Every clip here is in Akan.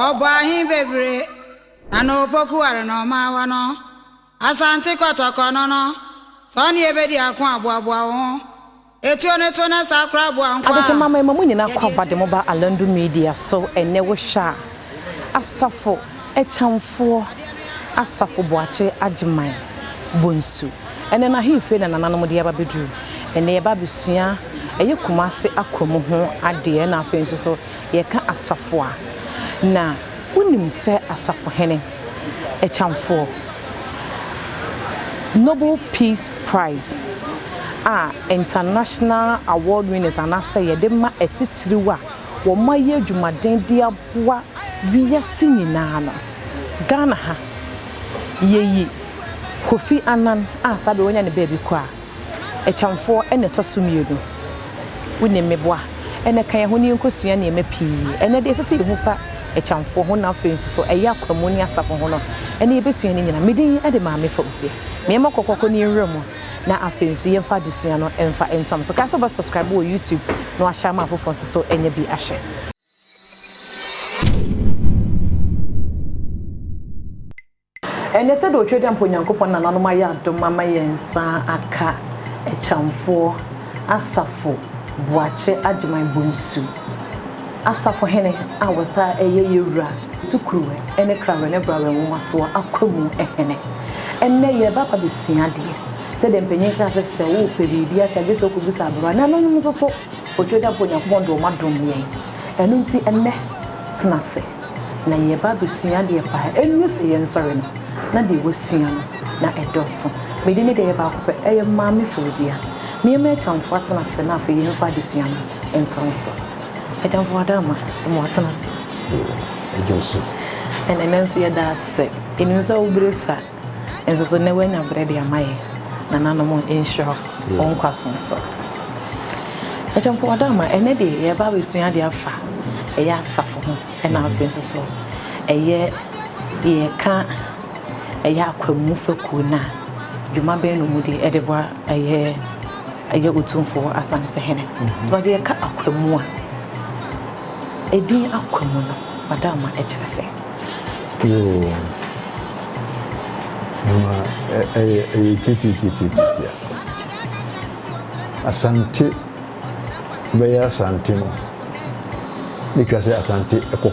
Ɔbɔ ahe bebire na na opoku ware na ɔma awa no? Asante kɔtɔkɔ no no, sɛ ɔne yɛbɛdi ako a, boaboa wo ho. Etuo no to na saa koraa boa nkoa a Adesoa Mama Ɛma Mo Nyinaa Yɛde Kwaba de Etuo mo no ba to. Alandu Media so ɛnnɛ wohwɛ a. Asafo Akyɛmfoɔ Asafo Boakye Agyeman Bonsu ɛnɛ no ahemfie na nananom de aba bɛduru ɛnɛ yɛba abɛsua ɛyɛ Kumase Akwa mu ho adeɛ na afei nso so yɛka asafo a na wonim sɛ Asafohene Akyɛmfoɔ Noble Peace Prize a International Award Winners anaasɛ yɛde ma atitiriw a wɔayɛ adwumaden de aboa wiase nyinaa no, Ghana ha, yɛyi Kofi Annan a saa berɛ wanya ne baabi kɔ a, Akyɛmfoɔ na ɛtɔ so mmienu. Wonim me boa na ka yɛn ho na yɛnkɔsua nneɛma pii. Ɛnnɛ deɛ ɛsɛ sɛ yɛhu fa Akyɛmfoɔ ho na afei nso so ɛyɛ Akwamuu ne Asafo ho no, ɛnnɛ yɛbɛsua ne nyinaa. Me din de Maame Fauziah. Meɛma kɔkɔkɔ ne nwura mu. na afei nso yɛmfa adesua no mfa ntoa mo so. Kae sɛ wobɛ subscribe wɔ YouTube na wahyɛ ama afoforɔ nso so anya bi ahwɛ. Ɛnnɛ sɛdeɛ ɔtwa dɛ mpo Onyankopɔn nananom ayɛ adom ama yɛn nsa aka akyamfoɔ Asafo Boakye Agyeman Bonsu. Asafohene a wɔsan yɛ yɛn Wura Tukuruwe ne Krawe ne Brawe Nwomasoɔ Akwamu Hene. Ɛnnɛ yɛreba aba bɛsua adeɛ. Sɛdeɛ mpanin kaa sɛ, sɛ wopɛ biribi akyɛ a, gye sɛ wokɔbisa aberewa. Nananom nom nso so, Otwadeɛfoɔ Onyankopɔn de wɔn adom yɛn. Ɛno nti ɛnnɛ, tena ase na yɛreba abɛsua adeɛ pa ara. Ɛnnuru sɛ yɛnsɔre no, na deɛ woasua no, na ɛdɔɔso. Me din ne deɛ ɛyɛ baako pɛ, ɛyɛ Maame Fauziah. Meɛma Akyamfo atena ase na afei yɛmfa adesua no ntoa so. Adamfo ada ama ma watena ase. Ɛdwo so. Ɛnna ɛnɛ nso yɛda ase. Ɛnim sɛ wo berɛ sua. Nso so nnɛ woanya berɛ de ama yɛ. Nananom nhyira wo nkwa so nso. Adamfo ada ama ɛnɛ deɛ yɛba abɛsua adeɛ afa ɛyɛ asafo ho. Ɛna afei nso so ɛyɛ yɛka ɛyɛ akwamu fakuo no a dwuma bɛn na wɔdi de boa ɛyɛ. Ɛyɛ Otumfoɔ Asantehene. Na ɔde ɛka Akwamu a, edin Akwamu no, Madam ma ɛkyerɛ sɛ. Yoo, ɛma ɛyɛ ɛyɛ tititititi a. Asante bɛyɛ Asante no, na etwa sɛ Asante kɔ ko.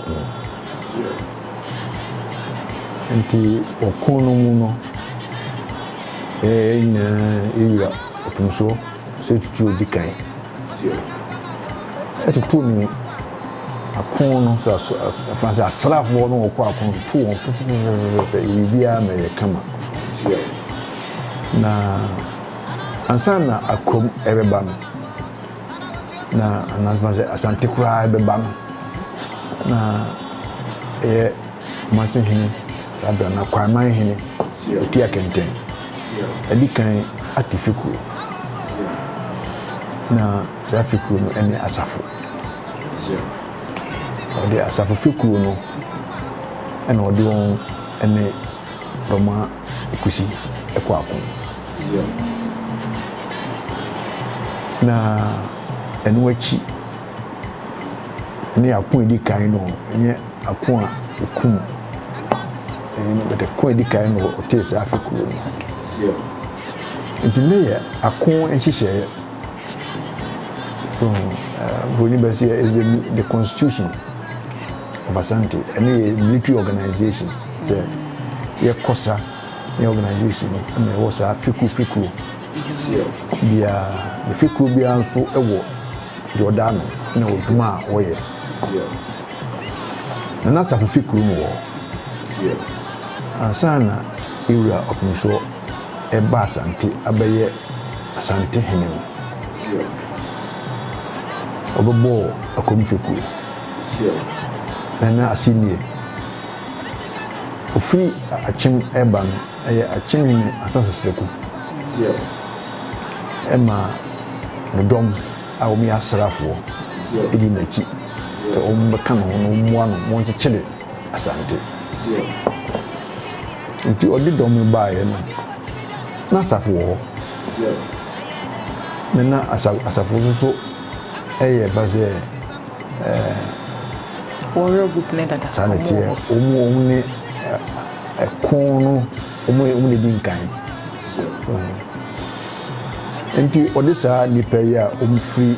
Nti ɔko no mu no, ɛɛ nyinaa ewura Nso sɛ tutu odi kan. Ɛtoto mi akon no so aso ɛfa sɛ asraafoɔ no wɔkɔ akon no to wɔn pɛpɛpɛpɛpɛ yɛ biribiara ma ɛyɛ kama. Na ansa na akram ɛbɛba no na anasoma sɛ asante koraa ɛbɛba no na ɛyɛ Kumase Hene Rabia na Kwaiman Hene Otua Kɛntɛn adi kan ate fekuro. Na saa fekuro no ne asafo. Wɔde asafo fekuro no na wɔde wɔn ne Dormaa Kusi kɔ ako. Na ɛno akyi ne ako a edi kan no, ɛnyɛ. Ako a ekum eyi no bɛtɛ ko a edi kan no wɔ Otis afe kurow no mu. Enti nnɛ yɛ ako nhyehyɛe from Broni bɛsi yɛ is the, the constitution of Asante ɛne yɛ military organization sɛ yɛkɔsa ne organization no ɛna ɛwɔ saa fekuro fekuro biara ne fekuro biara nso ɛwɔ deɛ ɔda ano ɛna ɔdwuma a ɔyɛ. Na n'asafo fi kurom wɔ hɔ. Ansa na Ira Ɔpemsoɔ reba Asante abɛyɛ Asante hene no, ɔbɛbɔɔ Akom fekuo, Nana Assimie. Ɔfiri Akyem reba no, ɛyɛ Akyem hene Ansah Seseleku maa no dɔm. a wɔyɛ asraafoɔ di n'akyi sɛ wɔbɛka ne ho na wɔmmoa no ma ɔnkyekyere Asante. Nti ɔde dɔm no baeɛ no, na asafo wɔ hɔ, na na asafo nso so yɛ ba sɛ saa na ɛteɛ, wɔn ne ɛko no. wɔn a wɔn na edi nkan wɔ ho nti ɔde saa nnipa yi a wɔfiri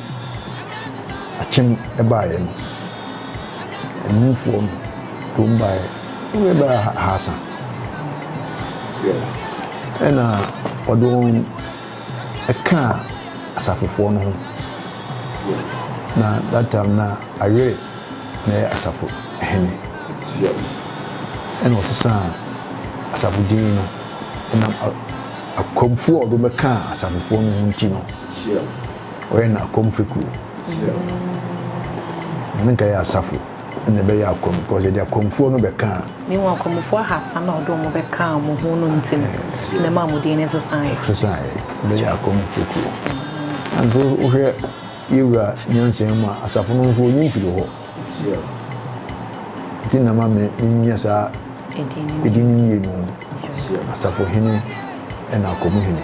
akyem baeɛ no emufoɔ no de wɔn baeɛ wɔn yɛ bɛyɛ ahasa ɛna ɔde wɔn ɛkaa asafofoɔ no ho na that time na ayere. na yɛ asafo hene. Yɛ ɛna ɔsesaa asafo din no ɛnam akwamfoɔ a ɔde bɛkaa asafofoɔ no ho nti no. Ɔyɛ no akwam fekuo. Na ne nka yɛ asafo ɛna ɛbɛyɛ akwam because yɛde akwamfoɔ no bɛkaa. Ne wɔn akwamfoɔ ahasa na ɔde wɔn bɛkaa wɔn ho no nti no na ɛma wɔn din no sesaeɛ. Sesaeɛ bɛyɛ akwam fekuo. Nanso wohwɛ. Yewura nyansa mu a, asafo no nso onyi mfiri hɔ. Nti na ma me menyɛ saa edin no mmienu no, Asafo Hene ɛna Ako mu Hene.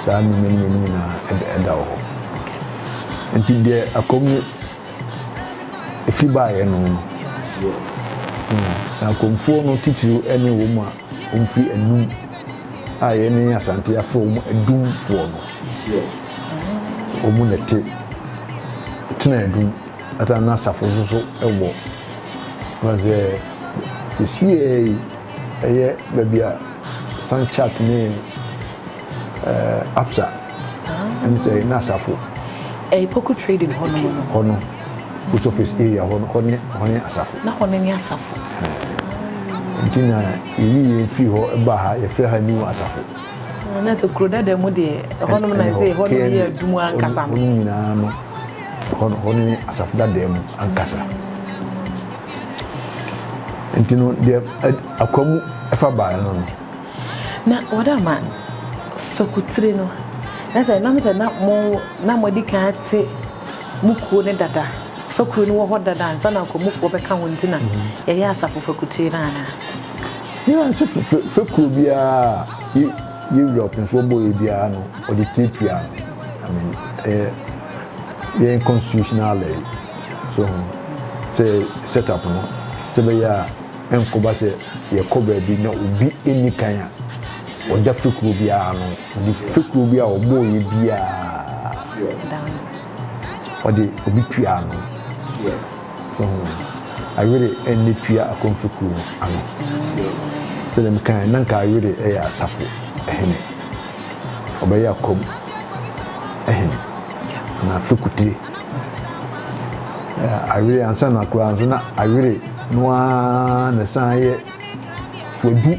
Saa nneɛma mmienu nyinaa ɛda ɛda wɔ hɔ. Nti deɛ Ako mu efi baeɛ no no, na Akomfoɔ no titiriw ɛne wɔn a. Mfiri anum a yɛne Asante afrɛ wɔn adumfoɔ no, wɔn na ɛte tena adum ata na asafo nso so wɔ. Wɔn sɛ sisiɛ yi ɛyɛ baabi a Sanchat ne eh, Absa ɛne sɛ na asafo. Ɛyɛ Poku trading hɔ nom no. Hɔ no. Post office area hɔ no, hɔ ne hɔ ne asafo. Na hɔ no ne asafo. Ɛɛ nti na yɛyi yɛn firi hɔ ba ha yɛfrɛ ha new asafo. Ah, na sɛ kuro dada mu deɛ ɛhɔ nom na ɛsɛ ɛhɔ nom yɛ adum ankasa no. Hɔ nyinaa no hɔ hɔ ne asafo dada mu ankasa. Nti no deɛ akwa mu ɛfa baa no no. Na wɔde ama fakutire no na sɛ nam sɛ na mo na mo adi kan ate. mo kuo no dada, fekuo no wɔ hɔ dada ansa na akwamufoɔ bɛka ho nti na yɛyɛ asafo fekutue no anaa? Yɛn ara nso fe, fe, fekuo biara a yɛ, yɛ wura ɔpemfoɔ bɔeɛ biara no ɔde tire tua no. I mean, ɛyɛ yɛn constitutional lɛe, so ho, sɛ set up no sɛ ɛbɛyɛ a ɛnkɔba sɛ yɛkɔ baabi na obi nni kan a ɔda fekuo biara ano. Ɔde fekuro bi a ɔbɔɔeɛ biara, ɔde obi tuaa ano. So ho ayere ɛnne tua akɔm fekuro no ano. Sɛdeɛ mekaeɛ na nka ayere ɛyɛ asafo hene. Ɔbɛyɛ akɔm hene anaa fekutire. Ayere ansa na koraa nso na ayere no ara na ɛsan yɛ fuadu.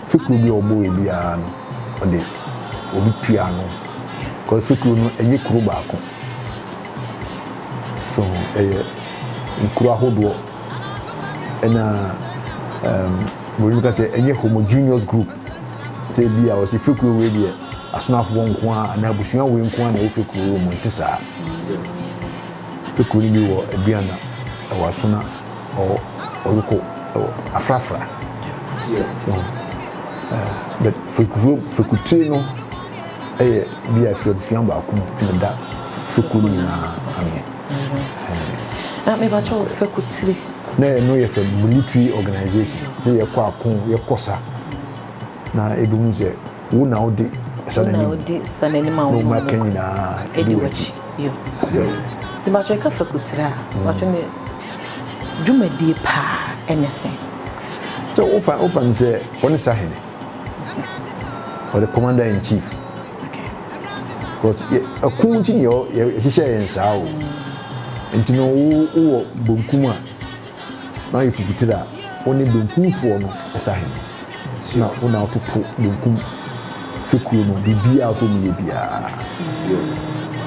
Fekuro bi a ɔbɔɔɛ biara no ɔde obi tua ano cos fekuro no ɛnyɛ kuro baako so ho ɛyɛ nkuro ahodoɔ ɛna um, bɔbi mu ka sɛ ɛnyɛ homogeneous group sɛ bi a ɔsi fekuro wei deɛ asonafoɔ nko a anaa abusua wei nko a na ɛwɔ fekuro wei mu nte saa fekuro no bi wɔ aduana ɛwɔ asona ɔwɔ ɔruko ɔwɔ afrafra no but fekufo fekutire no ɛyɛ bi a firi abusua baako mu ɛna ɛda feku no nyinaa ano. na mebatɔ fekutire. na ɛno yɛ fɛ military organization sɛ yɛkɔ ako yɛkɔ sa na ebi hu sɛ. Wo na wode sa n'anim. Wo na wode sa n'anim a wo mma ka nyinaa edi w'akyi. Yo. Yo. Ti bàtò ɛka fa kutura a. Bàtò ne dwumadie paa ɛne sɛn. Sɛ wofa wofa no sɛ ɔne sa hene. Ɔde commander in chief. Okay. Because yɛ ɛko nti ne yɛ yɛhyehyɛ yɛn saa o. Nti no wo wowɔ bonkum a. na ayɛ fukutire a, wo ne benkumfoɔ no sa hene, na wo na wototo benkum fekuo no biribiara a ɔsɛ wɔyɛ biara.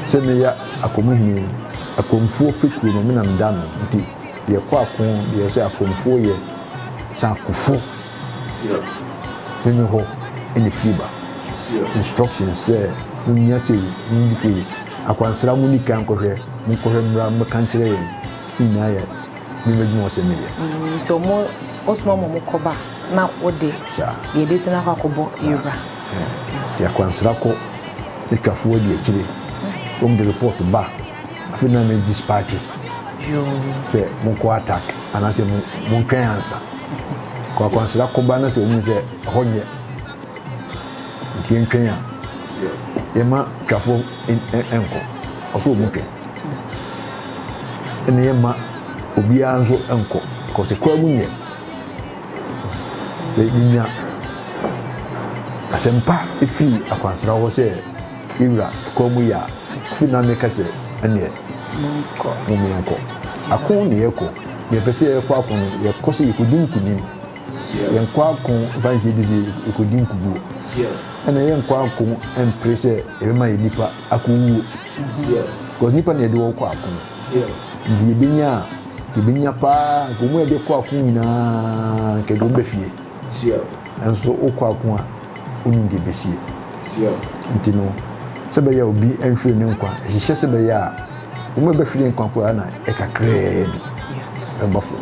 Sɛ meyɛ Akomu hene yi, Akomfoɔ fekuo no me na meda ano, nti deɛ ɛkɔ ako deɛ ɛsɛ Akomfoɔ yɛ sɛ akofo hene hɔ na ɛfiri ba. Instructions sɛ monyɛ sei, modi sei, akwansra monni kan nkɔhwɛ, monkɔhwɛ mmra mmɛka nkyerɛ yɛn. Nyinaa yɛ me m'adwuma ɔsɛ me yɛ. Nti ɔmo ɔsoma ɔmo ɔmo kɔba na ɔde. Saa. Deɛ ɛbɛsi na akɔ akɔbɔ yɛbra. Nti akwansra kɔ ne twafo adi akyire ɔmo de report ba afei na me dispatche. Yoo. Sɛ mo nkɔ attack anaasɛ mo mo ntwɛn ansa kɔ akwansra kɔba na sɛ ɔmo sɛ ɛhɔ nyɛ nti yɛntwɛn a yɛma twafo nkɔ ɔsɛ ɔmo twɛn. ɛna yɛmma obiara nso nkɔ because ɛkura mu nyɛ yɛnya asɛmpa ɛfiri akwansra hɔ sɛ yɛwura ɛkura mu yɛ a firi na meka sɛ ɛneɛ momeɛnkɔ ako na yɛkɔ yɛpɛ sɛ yɛkɔ ako no yɛkɔ sɛ yɛkɔdi nkonim yɛnkɔ ako mfa nhyɛ di sɛ yɛkɔdi nkuguo ɛna yɛnkɔ ako mpere sɛ ɛbɛma yɛ nipa akowuo because nipa na yɛde wɔn kɔ ako no nti yɛbɛnya a yɛbɛnya paa nka wɔn a yɛde kɔ ako nyinaa nka yɛde wɔn bɛ fie nso wokɔ ako a wonim deɛ bɛsie nti no sɛ bɛyɛ obi nhwere ne nkwa ɛhyehyɛ sɛ bɛyɛ a wɔn a bɛhwere nkwa koraa na ɛkakraa bi ɛba fo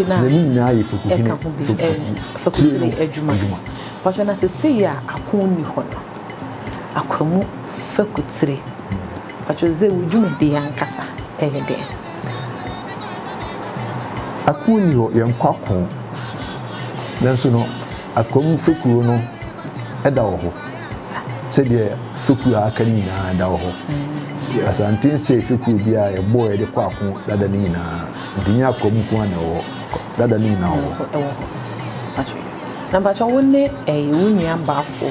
na ne nyinaa yɛ fukutini adwuma Ɔkyɛ na sesei a akõ nni hɔ no, akwamu fakutiri, mpakyɛw dze wo dwumadie ankasa yɛ dɛn? Akõ nni hɔ, yɛnnkɔ akõ, nanso no akwamu fekuo no da wɔ hɔ sɛdeɛ fekuo a aka no nyinaa da wɔ hɔ. Asanten sɛɛ fekuo biara a yɛbɔɔ yɛde kɔ akõ dada no nyinaa, nti nyɛ akwamu nko ara na ɛwɔ hɔ, dada no nyinaa wɔ hɔ. Na mpakyɛw wo ne ɛɛ wo nua baafo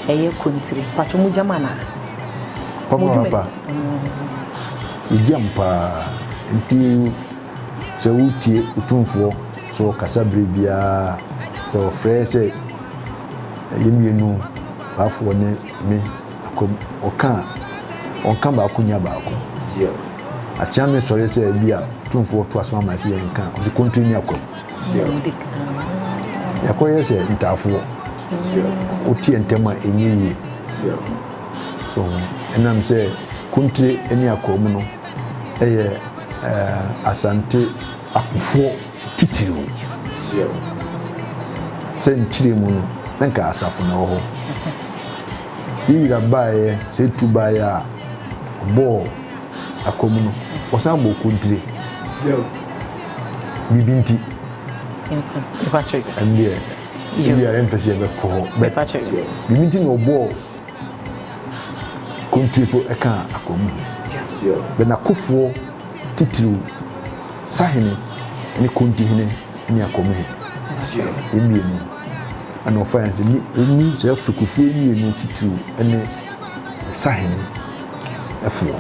ɛyɛ kontiri mpakyɛw mo gyam anaa. Ɔfa ɔfa yɛ gyam paa nti sɛ wo tie otumfoɔ sɛ ɔkasa bere biara sɛ ɔfrɛ sɛ ɛyɛ mmienu baafoɔ ne me akwam ɔka a ɔnka baako nya baako akyea me sɔre sɛ bi a otumfoɔ to asoma ma sɛ yɛn ka ɔsi kontiri ne akwam. Yɛkɔyɛ sɛ ntaafoɔ. Woteɛ ntɛm a ɛnyɛ yie. So ɛnam sɛ Kuntire ne Akoa mu no yɛ Asante akofoɔ titiriw. Sɛ nkyire mu no na nka asafo na ɛwɔ hɔ. Yewira baeɛ sɛ ɛtu baeɛ a ɔbɔɔ Akoa mu no ɔsan bɔɔ Kuntire. biribi nti. Mepakyɛ yi. Ɛndeɛ, ebi a yɛmpɛ sɛ yɛbɛkɔ hɔ. Mepakyɛ yi. Biribi nti na ɔbɔɔ kontuo so ɛka akoa mu hene. Bɛ n'akofoɔ titiriw, sahene ne kontuhene ne akoa mu hene. Yɛn mmienu ɛna ɔfa yɛn sɛ ni, ni saa fekufoɔ mmienu titiriw ɛne. nsahene foɔ.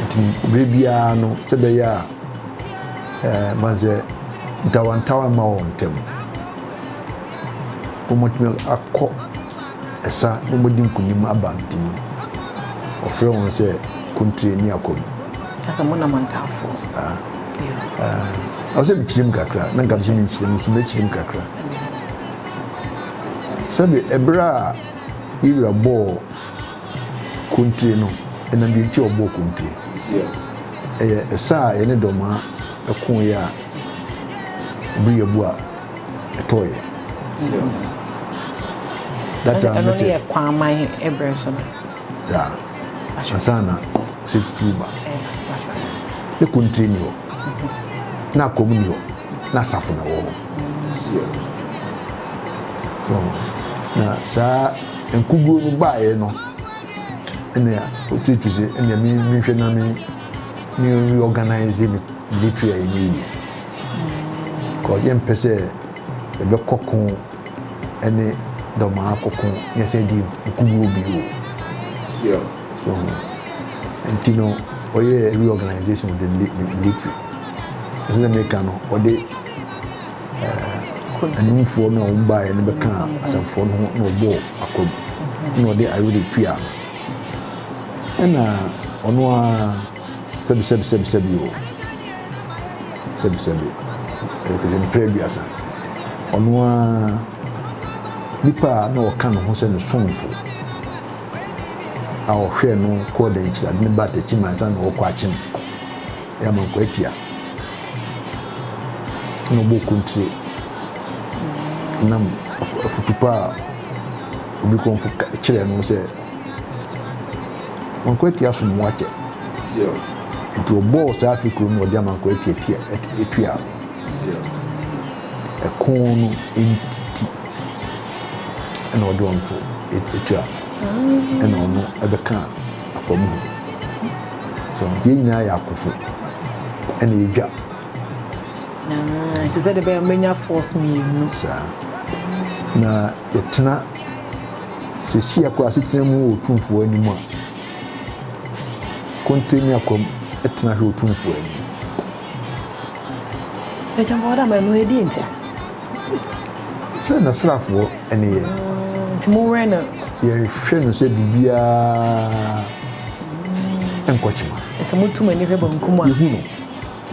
Nti berɛ biara no sɛ bɛyɛ a ɛɛ mansɛ ntawantawa mma wɔn ntam. Wɔtumi akɔ ɛsa na wɔdi nkunim aba nti no wɔfrɛ wɔn sɛ kontire ne akɔm. Sɛ mo na mo ntaafoɔ. Ah. Ah. Ɔsɛ mekyerem kakra na nka sɛ menkyerem nso mɛkyerem kakra. Sɛbi ɛberɛ a Yɛ wura bɔɔ kontire no ɛnam deɛ nti a ɔbɔɔ kontire. Ɛyɛ ɛsa a yɛne dɔmaa ɛkoeɛ a bere yɛbu a ɛtɔeɛ. That time ɛno ne yɛ kwaman ɛberɛ so no. Saa. Ansa na sɛ tuturu ba. Ne kontire ni hɔ. Akoto na akɔm ni hɔ na asafo na wɔ hɔ so na saa nkuguo no baeɛ no ɛna ɔtutu sɛ ɛna me mehwɛ na me me reorganize me military a ɛnyɛ yie because yɛmpɛ sɛ ɛbɛkɔ ko ne dɔmaa koko nyɛ sɛ di nkuguo bio o. Sure. So ho. Nti no, ɔyɛ reorganization of the military. Ɛsɛ sɛ meka no, ɔde anumfoɔ no a wɔn baeɛ no bɛka asɛmfoɔ no ho na ɔbɔɔ akwam na ɔde ayere tua no. Ɛna ɔno ara Sɛbi sɛbi sɛbi sɛbi o Sɛbi sɛbi Ɛkɛsɛ mpere aduasa Ɔno a Nipa a na ɔka ne ho sɛ ne somfo A ɔhwɛɛ no kɔɔ dankyiri ade ne ba atakyi ma ansa na ɔkɔ akyem Yɛ amankwa atia Na ɔbɔ kontire Nam afutupa a obi kɔmfo kyerɛ no sɛ Nkoatia so mmoa kyɛ. Nti ɔbɔɔ saa afe koro no ɔde ama nkoatia tia etua no. Ɛko no nti ɛna ɔde wɔn to etua no. Ɛna ɔno ɛbɛka akwa mu hɔ. So yɛn nyinaa yɛ akofo ɛna edwa. Te sɛ de bɛyɛ menya force mmienu. Saa na yɛtena. Sisi akɔ asetena mu wɔ Otumfoɔ anim a, konte ne akwam tena hwɛ Otumfoɔ anim. Ɛkyɛn bɔ ɔda ma ɛno ɛdi nti a. Sɛ na srafoɔ ne yɛn. Nti mo wɛ no. Yɛnhwɛ no sɛ biribiara nkɔkyema. Sɛ mo tum ani hwɛ bankum a. Yɛhu no.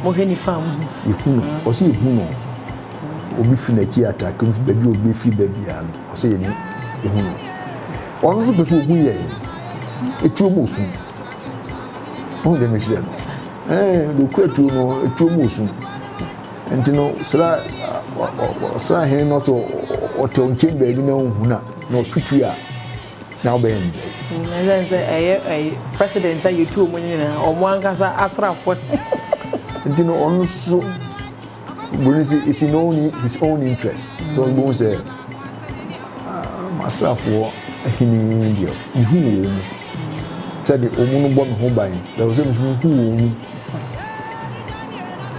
Mohwɛ nifa a mohu. Yehu no, ɔsɛ yehu no o. Obi fi n'akyi attack no, obi fi baabi a obi befiri ba biara no, ɔsɛ yɛne yehu no. Ɔno nso pɛ sɛ ohu yɛn. Etuo mu osu. Ɔhu deɛ mekyerɛ no? Ɛɛ, deɛ okura tuo no, etuo mu osu. Nti no, sra, ɔsra hene no sɛ ɔtɛw nkyɛn baabi na onhu na, na ɔtwe tuo a, na wobɛyɛ no dɛn ɛsɛn sɛ ɛyɛ ɛyɛ president a yɛtu ɔmo nyinaa ɔmo ankasa asrafoɔ nti no ɔno so boni sɛ ɛsi no own his own interest sɛ ɔbɛhu sɛ asrafoɔ ahene deɛ mehu wɔ wɔ mu sɛde ɔmu no bɔ me ho ban bɛwɔ sɛ mehu wɔ wɔ mu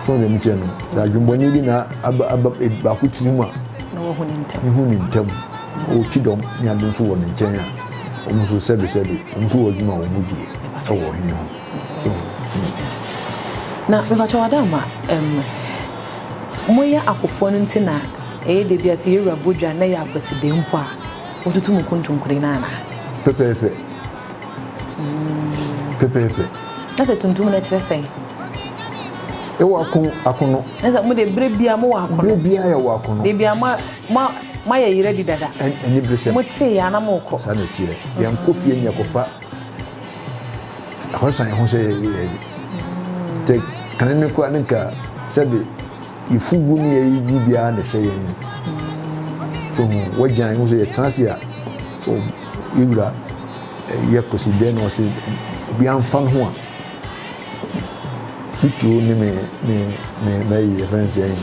fún dɛm kyɛ no sɛ adwumbɔne bi na aba aba baako tiri mu a mehu ne ntam Ɔwɔ kyidɔm ne ade nso wɔ ne nkyɛn a, wɔn nso sɛbesɛbe, wɔn nso wɔ adwuma a wɔdie wɔ ɔhene ho. So hu. Na mepakyɛw Adaama, ɛm, moyɛ akofoɔ no nti na ɛyɛ dɛ bi a sɛ yɛwura bɔ dwa na ɛyɛ akwasideɛ mpo a, motutu mo kontonkore no anaa? Pɛpɛɛpɛ. Pɛpɛɛpɛ. Na sɛ tuntum no kyerɛ sɛn? Yɛwɔ ako, akono. Na sɛ mo deɛ berɛ biara mowɔ akono? Berɛ biara yɛwɔ akono. Baabi a mo Mo a moayɛ yere adi dada. Ɛn, aniberesɛm. Motee yɛ a na morekɔ. Saa na ɛteɛ. Yɛnkɔ fie ne yɛkɔfa ɛhɔ san ho sɛ yɛyɛ bi. Te kane no koraa ne nka sɛbe yɛfugu ne yɛyɛ yie biara na ɛhyɛ yɛn. So ho, wagyan ho sɛ yɛtena ase a, so yɛwura yɛ kɔsi dɛn na ɔse obiara mfa ne ho a. Me tuo ne me me me mɛyi yɛ fɛn sɛn.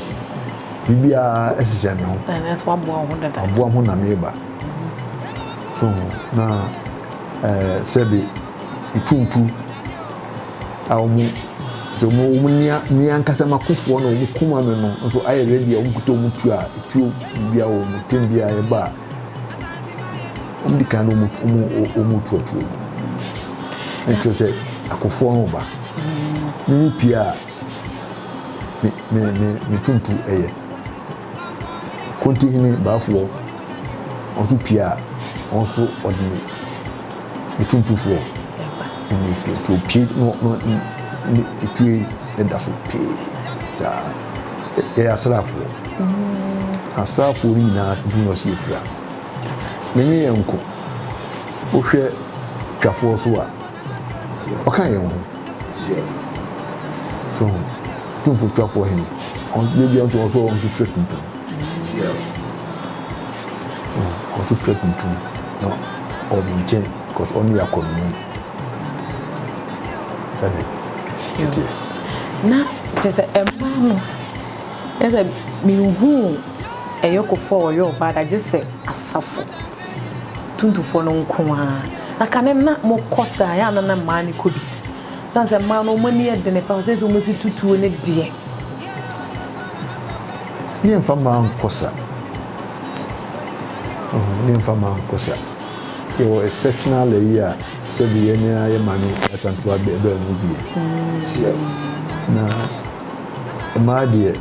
Biribiara ɛsesɛ me ho. Ɛnɛ so aboa ho dada. Aboa ho na meba. So na ɛɛ sɛbi ntuntu a wɔn sɛ wɔn wɔn nia nia ankasa ma kofoɔ na wɔn kuma me no nso ayɛ ready a wɔn kuta wɔn tuo a tuo biribiara wɔn tem biara ɛba a. wɔn di kan na wɔn wɔn wɔn tuatua mu na kyerɛ sɛ akofoɔ no ba ne ne pie a ne ne ne ne tuntu ɛyɛ kontihene baafoɔ wɔn nso pie a wɔn nso ɔde ne ne tuntufoɔ ɛna pie nti opie no no ne etue ɛda so pee saa. yɛyɛ asraafoɔ asraafoɔ no nyinaa dum na ɔsi efira na nye yɛn nko wohwɛ twafoɔ so a ɔka yɛn ho so ho tumfo twafoɔ hene ɔbɛbi nso ɔso wɔn nso fira tuntum ɔso fira tuntum na ɔmo nkyɛn kɔs ɔno yɛ akɔnɔni. sɛne ɛteɛ. Na kyerɛ sɛ ɛmma ho yɛ sɛ menhuu ɛyɔkofoɔ a wɔyɛ ɔbaa da gye sɛ asafo tuntumfoɔ no nko ara. Na kane no na mokɔ saa yɛ a na na mmaa no kɔ bi. Ɛsiane sɛ mmaa no wɔn ani yɛ dene paa sɛ sɛ wɔsi tutuo ne deɛ. Ne yɛmfa mmaa nkɔ sa. Ne yɛmfa mmaa nkɔ sa. yɛwɔ exceptional ayi a sɛbi yɛn ara yɛ maame asantew abɛn mu bie na mmaa deɛ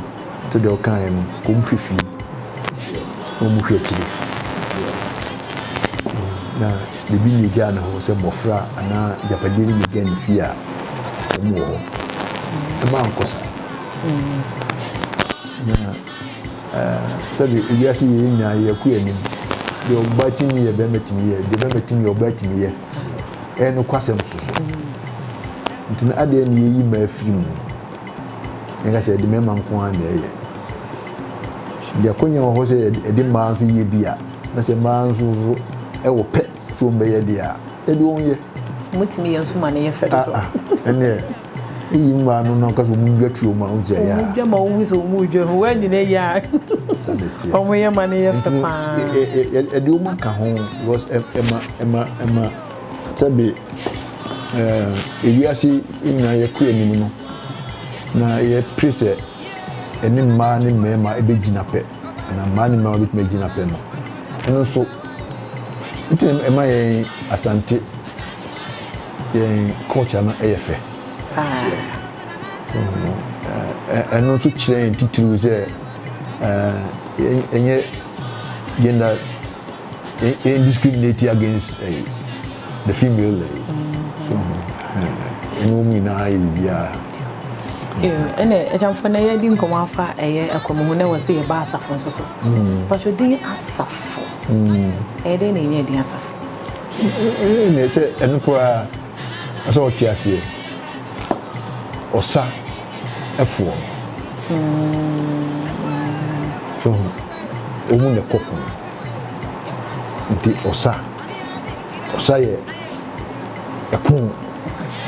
te deɛ ɔka yɛ no wɔn hwɛ fie na wɔn hwɛ akyire na biribi na egya ne hɔ sɛ mmɔfra anaa agyapadeɛ bi na egya ne fie a wɔn wɔ hɔ ɛma nkɔsa na. Sɛdeɛ ewiase yei nyinaa yɛ kɔ anim. Deɛ ɔbaa tumi yɛ, barima tumi yɛ. Deɛ barima tumi yɛ, ɔbaa tumi yɛ. Ɛyɛ nokwasɛm nso so. Nti no, adɛn na yɛyi mmaa firi mu, na yɛka sɛ yɛde mmarima nko ara na ɛyɛ? Deɛ akwanya wɔ hɔ sɛ yɛde mmaa nso yɛ bi a, na sɛ mmaa nso so wɔ pɛ sɛ wɔbɛyɛ deɛ a, ɛdeɛ wɔnyɛ. Wɔtumi yɛ nso ma no yɛ fɛ dodo. Ah ah, ɛnneɛ. Eyi nwa no no kasa ɔmo dwa tuo ma ɔgya ya. Ɔmo dwa ma ɔmo sɛ ɔmo dwa ho wɔn nyina yɛ a ɔmo yɛ ma no yɛ fɛ paa. Ɛde ɔmo aka ho because ɛma ɛma ɛma sɛbi ɛɛ ewiase nyinaa yɛ kɔ anim no na yɛ pere sɛ ɛne mmaa ne mmarima ɛbɛgyina pɛ na mmaa ne mmarima bɛtumi agyina pɛ no ɛno nso ɛtumi ɛma yɛn asante. Yɛn culture no yɛ fɛ. Ɛno nso kyerɛ yɛn titiriw sɛ ɛnyɛ gender yɛn discriminate against the female. So ɛno wɔn nyinaa yɛ biribiara. ɛna ɛgyamfo na yɛde nkɔmɔ afa ɛyɛ ɛkɔmɔ ho na wɔ sɛ yɛba asafo nso so patwodin asafo ɛyɛ dɛn na ɛnyɛ din asafo Ɛnneɛ sɛ ɛno koraa a sɛ ɔte aseɛ ɔsa ɛfoɔ so ho ɔmu na ɛkɔ pono nti ɔsa ɔsa yɛ ɛpono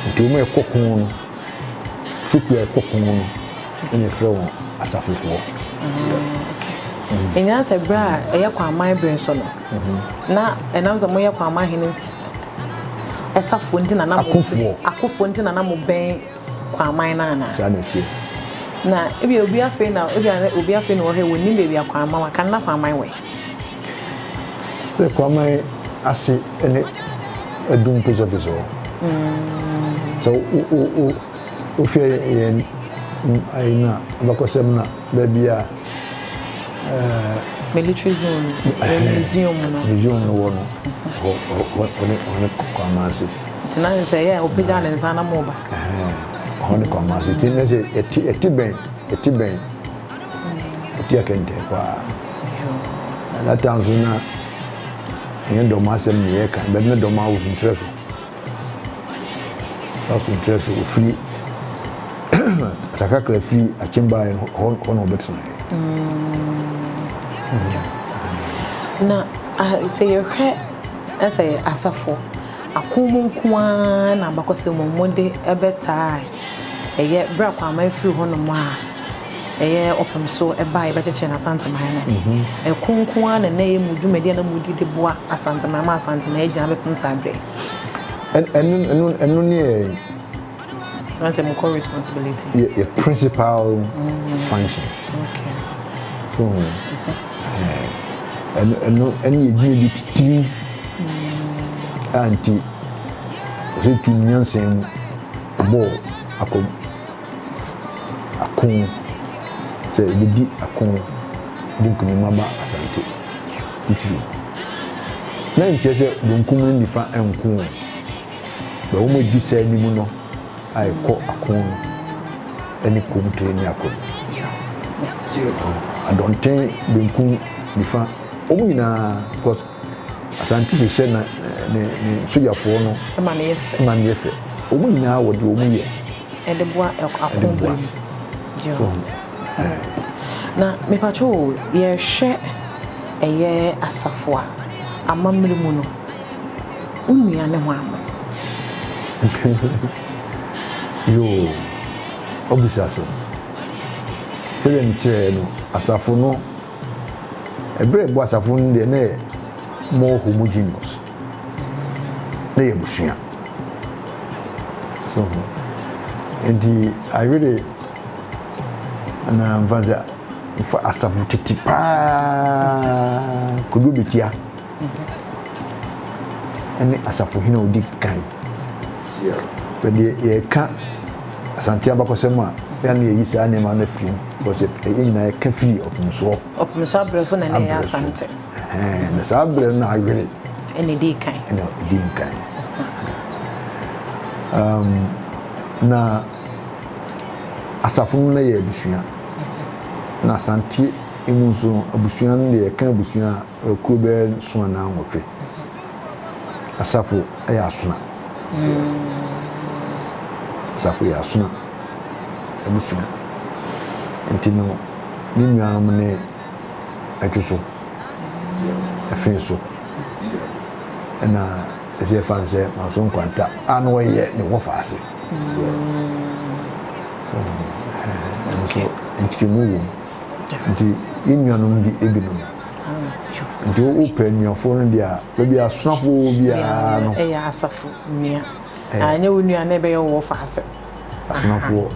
nti ɔmu ɛkɔ pono no fokua ɛkɔ pono no ɛna ɛfrɛ wɔn asafofoɔ. Ɛnyaa sɛ berɛ a ɛyɛ kwaman berɛ so no Na ɛnam sɛ moyɛ Kwama hene safoɔ nti na na mo Akofoɔ. akofoɔ nti na na mo bɛn Kwaman no anaa? saa na ɛteɛ Na ebia obi afei na ebia na obi afei na wɔhwɛ wɔnnim baabi a Kwaman wɔ kan na Kwaman wɔ he? sɛ Kwaman ase ne Adum Pesɔpesɔ hɔ sɛ wo wo wo wohwɛ yɛn mm, ayi no a abakɔsɛm no a. Baabi a ɛɛ. Military zone no, ɛɛ museum no. Museum no wɔ no, hɔ hɔ hɔ ne hɔ ne Kwamase. Nti na sɛ ɛyɛ a ɔpagya ne nsa na mo ba. Hɔ ne Kwamase ti ne sɛ ɛti ɛti bɛn ɛti bɛn ɛti akɛntɛ paa. Ɛna tan so na ɛnyɛ dɔm asɛm na yɛka bɛbi ne dɔm awosuntrɛ so. Saa nso nkyerɛ sɛ ofiri kakrakra firi akyem baeɛ no, hɔ hɔ na ɔbɛtenaeɛ. Na ah, sɛ yɛhwɛ eh, sɛ asafo ako mu nko ara na abakɔsɛm mu wɔde bɛtaa a, ɛyɛ berɛ a Kwame firi hɔnom a, ɛyɛ ɔpem so ba a yɛbɛkyekyere no Asanteman no, ɛko nko ara na ɛna ɛyɛ mu dwumadi a na mudi de boa Asanteman ma Asanteman agyina bɛpem saa berɛ yi. Ɛno ɛno ɛno ne yɛ. Ɛna sɛ mo kɔ responsibility. Yɛ yɛ principal function. Okay. So ɛno ɛno ɛne yɛ dwumadi titiriw a nti ɔsɛ tu nyansa mu bɔ akɔm. ako, sɛ yɛbɛdi ako de nkunim aba Asante titiriw. Na nkyerɛ sɛ benkum ne nifa nko o, bɛ wɔn adi saa anim no a ɛkɔ ako no ne Komtire ne ako no. Adɔnten, benkum, nifa, wɔn nyinaa because Asante hyehyɛ na ne ne sojafoɔ no ma no yɛ fɛ, wɔn nyinaa wɔde wɔn yɛ. Ɛde boa ɛko bere mu. So ho. Na me pato o, yɛhwɛ ɛyɛ asafo a, amammerɛ mu no, wo nua ne hwan mo? Yoo, wabisa asɛm. Sɛdeɛ me kyerɛɛ no, asafo no, ɛberɛ ɛbɔ asafo no deɛ na yɛ more homogeneous. na yɛ abusua. So ho. Enti ayere anaa mfa sɛ mfa asafo tete paa kodu betia ɛne asafo hene a odi kan. Bɛdeɛ yɛka asante abakɔsɛm a yɛa ne yɛyi saa nneɛma no afiri mu because yɛn nyinaa yɛka firi ɔpemsoɔ. Ɔpemsoɔ abrɛ so na ne yɛ asante. Ɛhɛn, na saa berɛ no awere. Ɛna ɛdi kan. Ɛna ɛdi kan. Um, na asafo no na yɛ abusua. Na Asante mu nso no, abusua no deɛ yɛka abusua a kuro bɛyɛ nso anaa nwɔtwe. Asafo yɛ asona. Asafo yɛ asona abusua. Nti no, ne nuanom ne ɛto so ɛfe nso ɛna ɛsɛ yɛfa no sɛ manso nkwanta a na ɔyɛ ne wɔfa ase ɛno so nkyerɛmu wɔ mu nti yɛn nuanom bi ebinom nti wopɛ nuafoɔ no deɛ a baabi asonafoɔ biara no ɛyɛ asafo nua ɛnyɛ wo nua na ɛbɛyɛ wɔfa ase asonafoɔ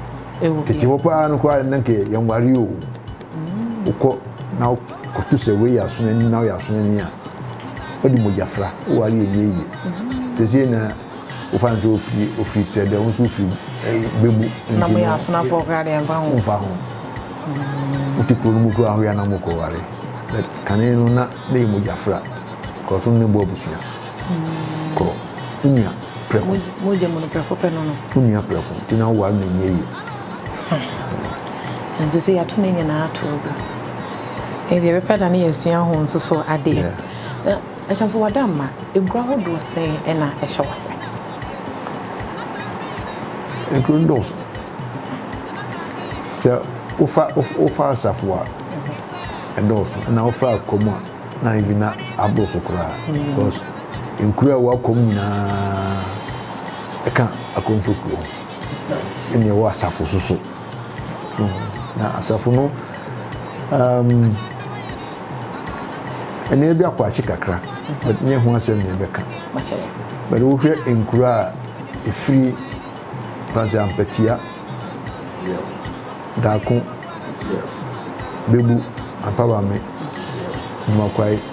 tete hɔ paa no koraa na nkɛ yɛnware o wokɔ na wokoto sɛ wei yɛ asonani na woyɛ asonani a wode mogya fra wɔ ade yɛ yie yie te sɛ na wofa no sɛ ofiri ofiri kyerɛ dɛ wo nso wofiri eh, bɛbu na mo yɛ asonafoɔ koraa deɛ mfa ho womfa ho wote kuro no mu koraa hoyɛ na mokɔware but kane no na na yɛ mogya fra kɔso no ne bɔ abusua korɔ wonua prɛko mogya mu no prɛko pɛ no no wonua prɛko nti na woware no nyɛ yie Huh. Nti sɛ yɛato ne nyinaa to ogu. Nti yɛbɛpɛ da ne yɛasua ho nso so adeɛ. Na akyɛmfo wada mma, nkuro ahodoɔ sɛn ɛna ɛhyɛ wase? Nkuro ndɔɔso. Sɛ wofa wofa asafo a ɛdɔɔso ɛna wofa akɔm a na ebi na aboroso koraa. Because nkuro a ɛwɔ akɔm nyinaa ɛka akɔmfo kuro ho. ɛna ɛwɔ asafo so so na asafo no ɛna ebi akɔ akyi kakra but nyɛ ho asɛm na ɛbɛka bɛde wohwɛ nkura a efiri fansi ampatia daako bebu ampabame nnumakwae.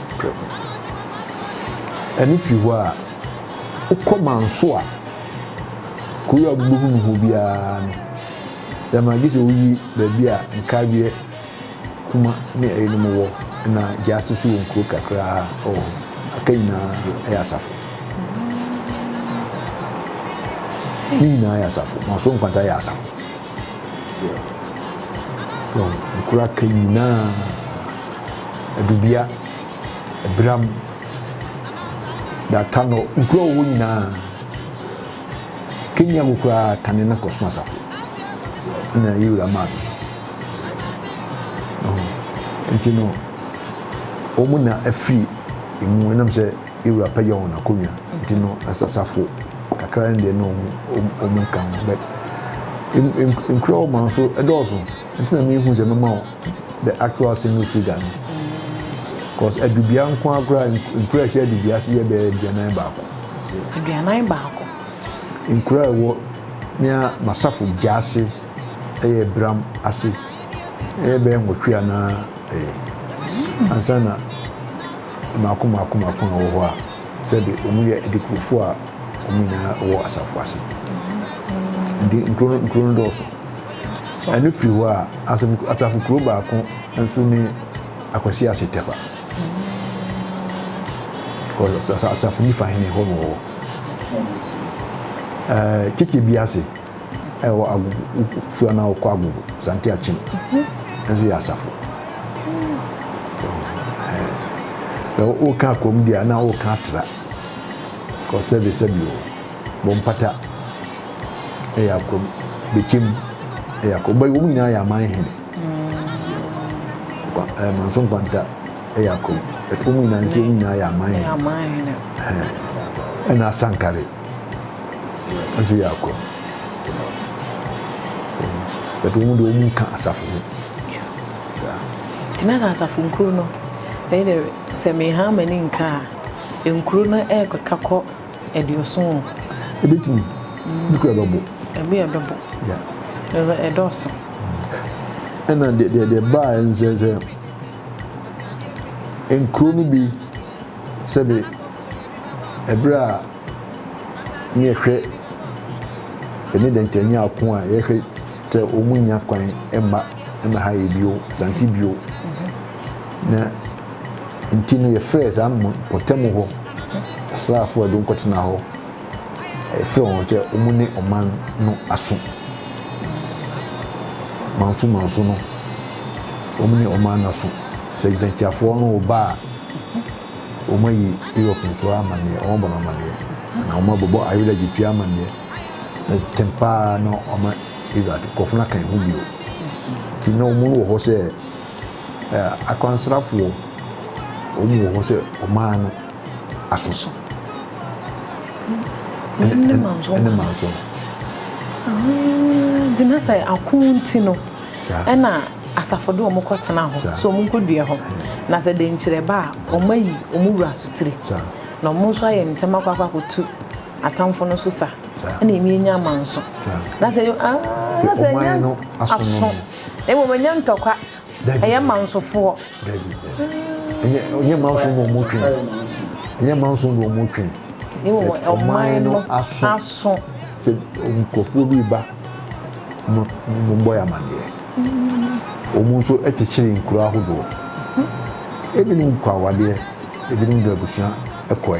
Twam. Ɛno firi hɔ a, wokɔ Manso a, kuro a wobɛhu no hɔ biara no, dɛm ara, gye sɛ woyi baabi a Nkaweɛ, Kuma ne ɛyinom wɔ, ɛna Gyasi nso wɔ nkuro kakra wɔ hɔ. Aka nyinaa yɛ asafo. Ne nyinaa yɛ asafo. Manso Nkwanta yɛ asafo. Nkuro aka nyinaa. Adubea, Abiram, de ata no nkuro a wɔwɔ nyinaa Kenya mu koraa tane na kɔsom asafo na ɛyɛ wura maa no so nti no wɔn na afiri emu ɛnam sɛ ewura pɛ yɛ wɔn akonnwa nti no asasafo kakra no deɛ no wɔn nka ho bɛ nkura wɔn nso ɛdɔɔso nti na mi hu sɛ mɛma wɔn. the actual single figure no cause adubea nko akora nkura ɛhyɛ adubea se yɛ bɛyɛ aduanan baako aduanan baako nkura ɛwɔ nea masafo gya ase ɛyɛ bram ase ɛyɛ bɛyɛ nwɔtwe anaa ɛyɛ mm. ansa na mako mako mako a wɔ hɔ a sɛbi wɔn yɛ adikurofo a wɔn nyinaa wɔ asafo ase nti nkuro no nkuro no dɔɔso. Ɛno firi hɔ a, asafo kuro baako nso ne Akwasi Ase Tɛkwa. Because asafo nifa hene hɔ na ɔwɔ. Ɛɛ Kyekye bi ase ɛwɔ Agogo firi anaa ɔkɔ Agogo Sante Akyem nso yɛ asafo. Ɛɛ ɔka kurom deɛ na ɔka atra. Because service bi wɔ hɔ. bɔ mpata yɛ akɔ bɛkyɛ mu yɛ akɔ bɛyɛ wɔn nyinaa yɛ aman hene kwa ɛɛ manso nkwanta yɛ akɔ ɛtɔ wɔn nyinaa nso wɔn nyinaa yɛ aman hene ɛna asankare nso yɛ akɔ bɛtɔ wɔn deɛ wɔn nka asafo ho saa. ti na asafo nkuro no ɛyɛ sɛ meha ama ne nka a nkuro no ɛkɔka kɔ. aduoson o. Ɛbɛtumi, bi kura bɛbo. Ɛbi a ɛbɛbo, ɛbɛ ɛdɔɔso. Ɛna deɛ deɛ deɛ baa ɛnsɛ sɛ nkuro no bi sɛbe ɛberɛ a ne yɛhwɛ ɛne deɛ nkyɛ nyɛ ako a yɛhwɛ sɛ wɔn nya kwan ɛmma ɛmɛ ha yɛ bio sante bio na. Nti no yɛfrɛɛ saa mpɔtam hɔ asraafo a wɔkɔtena hɔ, yɛfrɛɛ wɔn sɛ wɔn ne ɔman no aso manso manso no, wɔn ne ɔman no aso. Sɛ gyinakyiafoɔ no reba a, wɔayi Europe nso amaneɛ, wɔabɔ no amaneɛ, na wɔabobɔ ayerɛ gyetua amaneɛ. Na tɛm paa na wɔma Iraq nkurɔfo no aka ho bio. Nti na wɔn wɔ hɔ sɛ Akwansrafoɔ, wɔn wɔ hɔ sɛ ɔman no asɔsɔ ne manso no. Nti na sɛ ako nti no ɛna asafo de wɔn kɔ tena hɔ sɛ wɔn nkɔ dua hɔ na sɛ denkyerɛ ba a wɔn ayi wɔn wura asotire na wɔn nso ayɛ ntɛm akɔ akɔ akɔtu atamfo no so sa ɛna ɛmi anya amanso na sɛ ah na sɛ anya aso. na mmom ɛnyɛ ntɔkwa ɛyɛ mansofoɔ ɛnyɛ manso na ɔmo twe ɛnyɛ manso na ɔmo twe ɔman no aso sɛ nkurɔfoɔ bi ba mo mo bɔ yɛ amaneɛ ɔmo nso kyekyere nkuro ahodoɔ ebinom kɔ awadeɛ ebinom de abusua kɔe.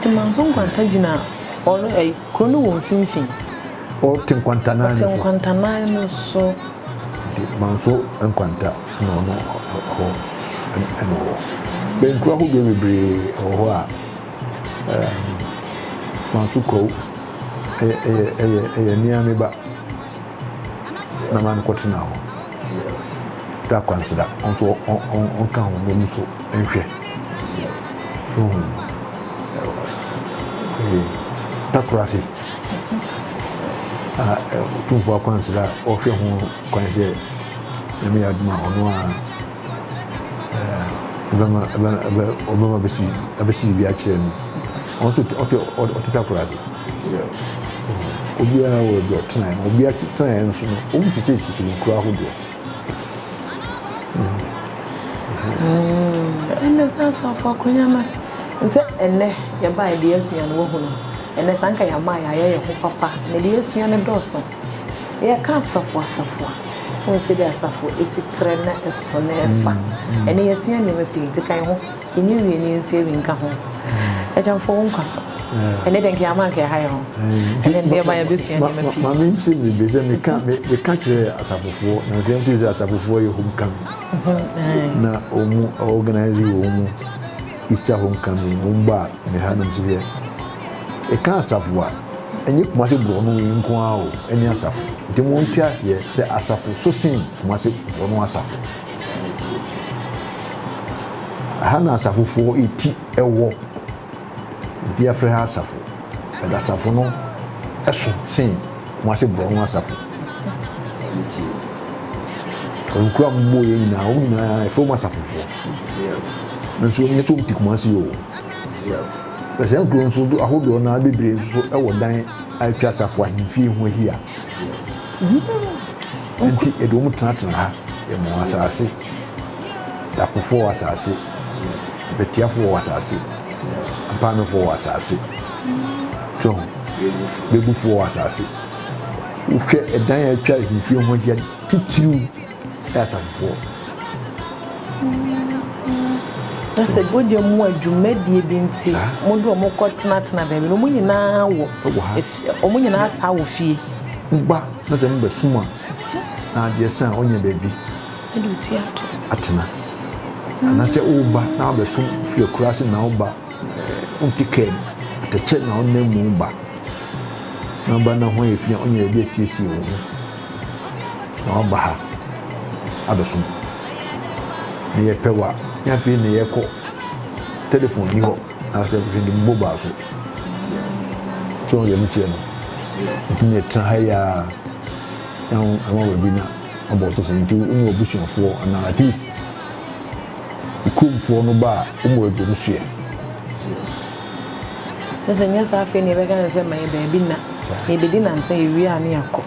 Temanso Nkwanta gyina kuro no wɔ mfimfini. Ɔte Nkwanta nan no so. Ɔte Nkwanta nan no so. Temanso Nkwanta na ɔno hɔ ɛna ɔwɔ. Bɛnkuro ahodoɔ bebree wɔ hɔ a Manso Kwawu ɛyɛ mea me ba na ma no kɔtena hɔ. Da Kwansera nso ɔnka ho na ɔmu so nhwɛ. So wohu? Ɛɛ, takorasi a ɔtumfo akwansra a ɔhwɛ ho kwan sɛ nyame yɛ adoma ɔno a ɛɛ ɛbɛma ɛbɛma ɛbɛ ɔbɛma bɛsi ɛbɛsi biribi akyerɛ no ɔno nso ɔte ɔte takorasi obiara wɔ ebi ɔtenae na obiara tenae nso no wɔn tete kyekyere nkura ahodoɔ. Ɛnɛ sɛ asafo akonya no sɛ ɛnɛ yɛbaeɛ deɛ yɛasua no woahunu ɛnɛ sɛ anka yɛama a yɛayɛ yɛn ho papa na deɛ yɛasua no dɔɔso yɛka asafo asafo a wohu sɛdeɛ asafo ɛsi trɛ na ɛso na ɛfa ɛnɛ yɛasua nneɛma pii nti kan ho Yɛnni wie ne yɛnso awi nka ho. Agya mfa wo nkwa so. Ɛnɛ dɛ nka ama nka yɛha yɛ ho. Ɛnɛ ndeɛ ma yɛbɛsua nneɛma pii. Maame nkyerɛ me bi sɛ meka meka kyerɛ asafofoɔ na sɛ nti sɛ asafofoɔ yɛ homecoming mhm, na wɔn organize wɔn Easter homecoming wɔn ba me ha nom sɛ yɛ ɛka asafo a ɛnyɛ kumase borɔno yi nko ara o ɛne asafo nti mo nte aseɛ sɛ asafo so sen kumase borɔno asafo. Ɛha na asafofoɔ ti wɔ. Nti yɛfrɛ ha asafo. But asafo no so sen Kumasi Borɔno asafo. Nti wɔn nkura a wɔbɔ yɛn nyinaa, wɔn nyinaa yɛfrɛ wɔn asafofoɔ. Nanso wɔn nyɛ sɛ wɔn ti Kumasi o. Na saa nkuro nso ahodoɔ no ara bebree nso wɔ dan a atwa asafo ahemfie ho ahyia. Enti yɛde wɔn tenatena ha, yɛ mo asase, Dakofoɔ wɔ asase, Bɛtiafoɔ wɔ asase, Ampaanofoɔ wɔ asase, so ho, Begufoɔ wɔ asase. Wohwɛ ɛdan a atwa ahemfie ho ahyia titiriw yɛ asafofoɔ. Na sɛ bɔgya mu adwumadie bi nti, mo de wɔn kɔtenatena baabi no, wɔn nyinaa wɔ. Ɛwɔ ha. Wɔn nyinaa saa wɔ fie. Mo ba na sɛ mobɛsom a, na adeɛ sa a ɔnyɛ baabi atena. Anaasɛ woba na wabɛsom fi akuraase na woba wonte kaa mu, atɛkyɛ na wonam mu ba na woba na ho ayɛ fi a ɔnyɛ baabi asiesie wo ho na waba ha abɛsom. Na yɛpɛ wo a, na afei na yɛkɔ. Telefon nni hɔ. Anaasɛ hwɛ de mobile ba so. So wɔn deɛ ɛno kyerɛ no. Nti ne tena ha yi ara na wɔn ama baabi na abɔ ɔte sɛ nti wɔn abusuafoɔ anaa at least kuromfoɔ no ba a wɔn wɔ adwom soɛ. Sɛ sɛ nyɛ saa afei na yɛbɛka ne sɛ ma yɛ baabi na yɛbɛdi nansa yɛwie a ne yɛakɔ.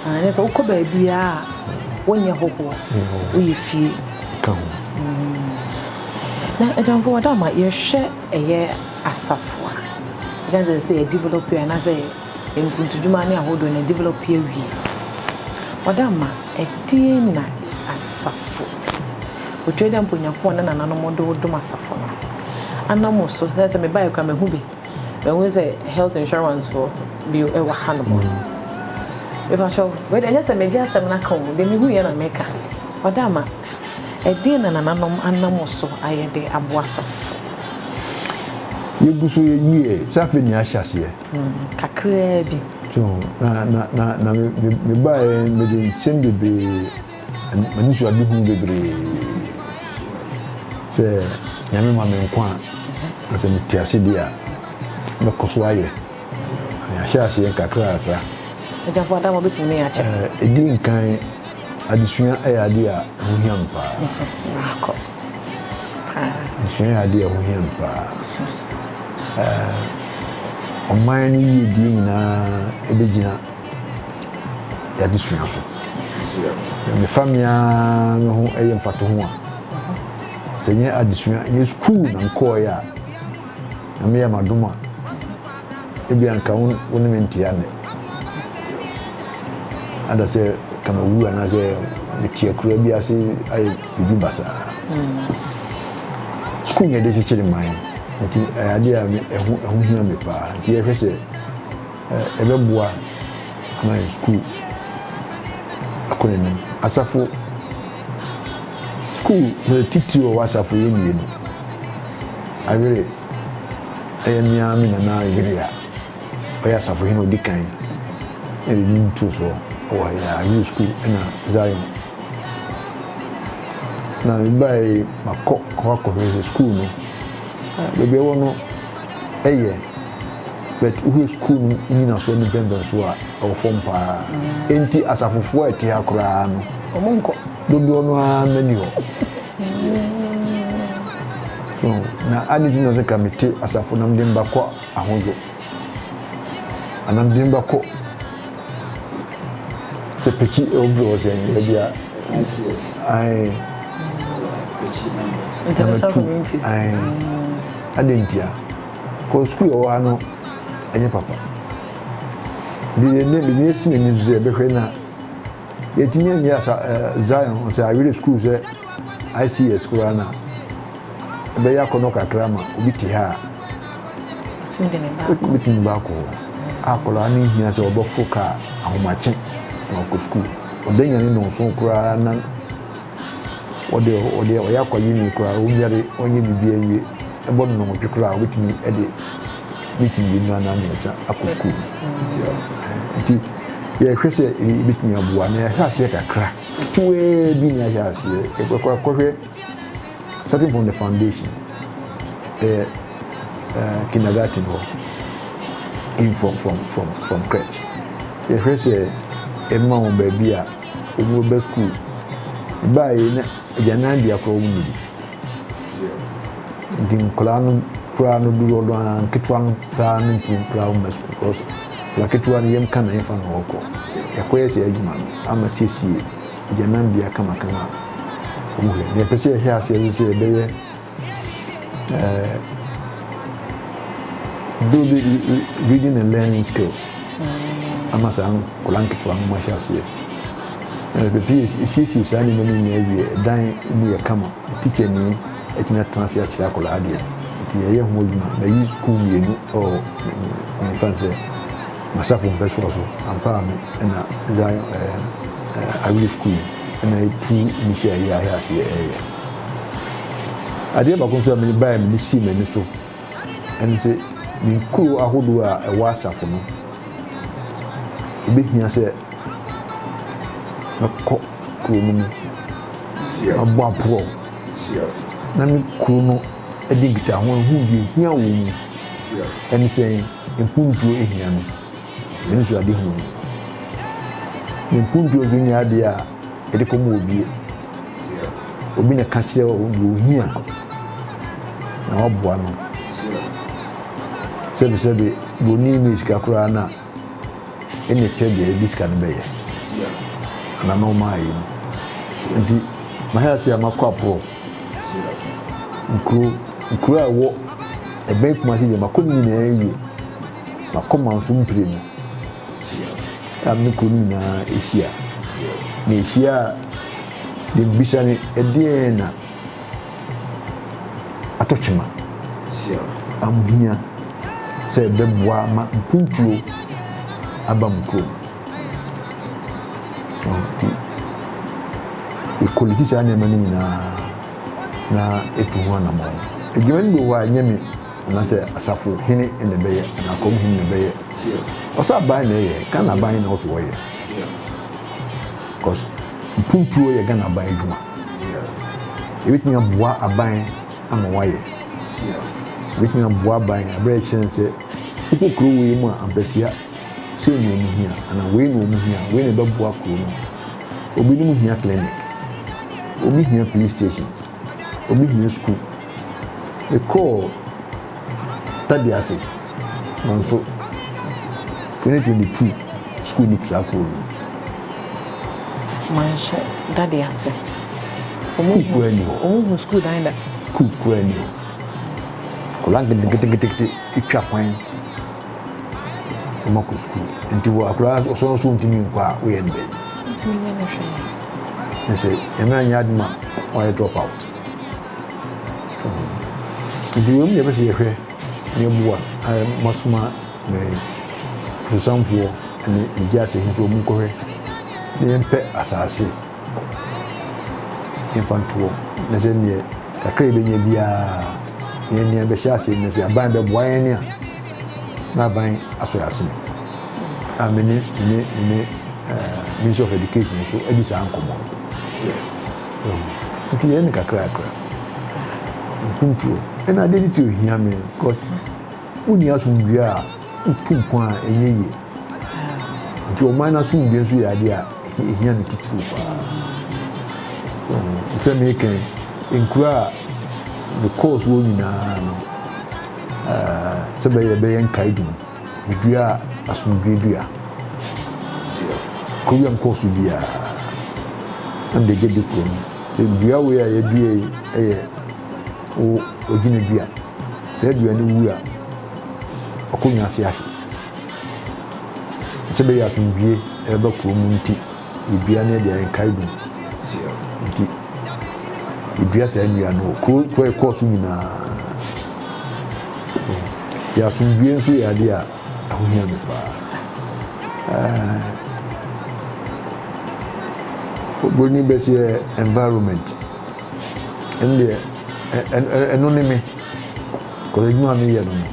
Anyɛ sɛ wokɔ baabiara a wonyɛ hohoɔ woyɛ fie. Ka ho. Na agyamfo wɔ dam a yɛhwɛ ɛyɛ asafo a yɛka sɛ sɛ yɛ develop yɛ anaasɛ yɛ mpuntudwuma ne ahodoɔ no develop yɛ wie. Wɔ dam a ɛdeɛn na asafo otwa dɛ mpo Nyankopɔn ne nananom de wo dom asafo no anam wo so sɛ sɛ me baeɛ koraa mahu bi mahu sɛ health insurance foɔ bi wɔ ha nom. Mepakyɛw wei deɛ ɛnyɛ sɛ megye asɛm no aka o deɛ mehu yɛ na meka wɔ dam a Ɛdeɛn na nananom anam so ayɛ de aboa asafo? Yɛgu so yɛ wieɛ sɛ afei ne ahyɛ aseɛ. Kakraa bi. So na na na na me me me baeɛ mede nsɛm bebree anisoadehunu bebree sɛ nyame ma me nkwa a na sɛ mete ase deɛ a mɛkɔ so ayɛ na yɛahyɛ aseɛ nkakrakra. Agyafo adama bɛtumi ne yɛ akyɛ. Ɛdi nkan Adesua yɛ ade a ɛho hia me paa. Maakɔ paa. Adesua yɛ ade a ɛho hia me paa. Ɛɛ ɔman no yiyedie nyinaa ɛbɛgyina adesua so. Mefa me ara me ho ɛyɛ mfatoho a, sɛ nyɛ adesua, nyɛ sukuu na mekɔɔeɛ a, na meyɛ m'adom a, Ebia anka wo wo ne me ntea nnɛ. Ada sɛ ka mawu anaasɛ mete akuraa bi ase ayɛ biribi basaa. Sukuu na yɛde kyekyere man nti ɛyɛ adeɛ a me ɛho ɛho hia me paa nti yɛhwɛ sɛ ɛbɛboa ama yɛn sukuu akɔ n'anim. Asafo sukuu mmerɛ titire wɔ asafo yɛ mmienu awere. ɛyɛ me ara me nana yere a ɔyɛ asafohene a ɔdi kan na ɛde din too soɔ wɔ ha yi a new school ɛna zion na mebae makɔ hɔ akɔhwɛ sɛ school no baabi ɛwɔ no ɛyɛ but wohwɛ school no nyinasoɔ ne mpɛmpɛnsoɔ a ɛwɔ fam paa enti asafofoɔ a ɛte ha koraa no ɔmo nkɔ dodoɔ no ara mɛni hɔ so na adi ti na sɛ ka mete asafo nam de mba kɔ ahodzo anam de mba kɔ sɛ pekyi obi wɔ sɛ nyɛ bi a ae ntamatu ae adi ntia kɔ sukuu yɛ wɔ ha no ɛnyɛ papa deɛ ne bi ne esi n'ani so sɛ ɛbɛhwɛ na. Yɛtumi anyi asa eh, Zion sɛ awerɛ sukuu sɛ ICS koraa na ɛbɛyɛ akɔnɔ kakra ma obi te ha a wobɛtumi baakɔ hɔ akɔlaa no hia sɛ ɔbɛfo kaa ahomakye na ɔkɔ sukuu ɔda nyane nɔnso koraa na Wɔde wɔde wɔyɛ akɔ uni koraa wobia de wɔnyɛ biribiara nwie ɛbɔ no nnɔnwɔtwe koraa a wobɛtumi de meet mmienu anaa mmiɛnsa akɔ sukuu nti yɛhwɛ sɛ ebɛtumi aboa na yɛahwɛ aseɛ kakra ketewaa bi na yɛahwɛ aseɛ yɛkɔhwɛ starting from the foundation ɛyɛ uh, kindergarten hɔ in from from from from crèche yɛhwɛ sɛ ɛma wɔn baabi a ɔmo reba skuul. Baayɛ na agyanan bea koraa ɔmo nni. Nti nkɔlaa no koraa no dodoɔ no aa nketewa no paa no ntumi koraa mma skuul bikɔs bea ketewa no yɛm ka na yɛmfa no ɔɔkɔ. Yɛakɔyɛ saa adwuma no ama siesie agyanan bea kamakama a ɔmo hwɛ. Nea yɛpɛ sɛ yɛhyɛ aseɛ nso sɛ yɛbɛyɛ uh, build reading and learning skills mm. ama saa nkɔla nketewa no mahyɛ aseɛ ɛpɛpɛ ɛsiesie saa nneɛma no nyinaa wie dan mu yɛ kama tikya ni atumi atena ase akyerɛ akɔla adeɛ nti yɛyɛ ho adwuma mayi sukuu mmienu ɔ mefa n sɛ masafo mpɛ soɔ so ampa a me ɛna zion ɛɛ awiri sukuu ɛna ɛtu mehyɛ ɛyɛ ahɛ aseɛ ɛyɛ Adeɛ baako nso a mene baeɛ mene sii m'ani so ɛne sɛ ne nkuro ahodoɔ a ɛwɔ asafo no ɛbɛhia sɛ mɛkɔ kuro no mu abɔ aporɔ na me kuro no ɛde nkitaho ɛho deɛ ɛhia wɔ mu ɛne sɛ mpuntuo ɛhia no me nso ade ho no mpuntuo nso nyɛ adeɛ a de kɔ mu obie. Obi na ka kyerɛ wo deɛ ohia na waboa no. Sɛbi sɛbi broni ne sika koraa na ɛna kyerɛ deɛ ɛde sika no bɛyɛ anaa na ɔma ayɛ no. Nti mahɛ ase a makɔ aporɔ nkuro nkuro a ɛwɔ ɛbɛn kumase deɛ makɔ ne nyinaa awie. M'akomamfo mprenu a me kɔ no nyinaa hyia. Na ehyia a, deɛ mebisa ne, Ɛdeɛn na atɔ kyema a mohia sɛ ɛbɛboa ma mpuntuo aba mo kurom? Nti yɛkɔliti saa nneɛma no nyinaa na yɛtu ho anammɔn. Adwuma no bi wɔ hɔ a, ɛnyɛ me. anaasɛ asafo hene na ɛbɛyɛ anaa akɔm hene na ɛbɛyɛ ɔsɛ aban na ɛyɛ ghana aban na ɔsɛ wɔyɛ because mpuntuo yɛ ghana aban adwuma ebitumi aboa aban ama wayɛ ebitumi aboa aban abirɛ kyerɛ nsɛ wokɔ kuro wei mu a ampɛtia sei na ɔmo hia anaa wei na ɔmo hia wei na ɛbɛboa kuro no obinom hia clinic obi hia police station. obi gyina sukuu. Mekɔɔ Tadi ase nanso twenty twenty two sukuu no pira kɔɔ mu. Manhyɛ Tadi ase. Sukuu kura ni hɔ. Wɔn hu sukuu dan da. Sukuu kura ni hɔ. Nkɔla nketenkete twa kwan. Ɔma kɔ sukuu. Nti wɔ akwadaa no ɔsɔre nso ntumi nkɔ a woyɛ no dɛn? Ntumi nyɛ no hwee. Ne sɛ ɛmɛ anyɛ ade ma ɔyɛ drop out. Nti wei mu yɛ bɛ sɛ yɛhwɛ ne boa masoma ne fotosanfoɔ ne ne gye asɛ nso wɔn nkɔhwɛ ne yɛmpɛ asaase. yɛmfa nto hɔ na sɛ neɛ kakra a yɛbɛnya biara yɛn nea bɛhyɛ ase na sɛ aban bɛboa yɛn a na aban asɔ yɛn asene a me ne me ne me ne eh, minister of education nso adi saa nkɔmmɔ no nti yɛn ne kakrakra mpuntuo ɛna adeɛ titiri ohia me because Wonni asomdwoeɛ a, wotu mpɔn a, ɛnyɛ yie. Nti ɔman no asomdwoeɛ nso yɛ adeɛ a ɛhia no titiriw paa. So, sɛ meka yi, nkuro a mekɔɔ so hɔ nyinaa no, uh, sɛ bɛyɛ bɛyɛ nkaedum, medua asomdwoeɛ dua. Kuro bi a mekɔɔ so biara, na mede gye de kuro no. Sɛ dua wei a yɛadua yi yɛ wo ogyina dua. Sɛ dua no wu a, ɔkɔ wiase ase. Sɛ bɛyɛ asomdwie ɛba kuro mu nti, yɛdua no yɛde ayɛ nkaedum. Nti yɛdua saa nnua no wɔ kuro kuro ɛkɔɔ so nyinaa. Yɛ asomdwie nso yɛ adeɛ a ɛho hia me paa. Oburoni bɛseɛ environment. ɛndeɛ ɛno ne me kɔsɛ adwuma a meyɛ no no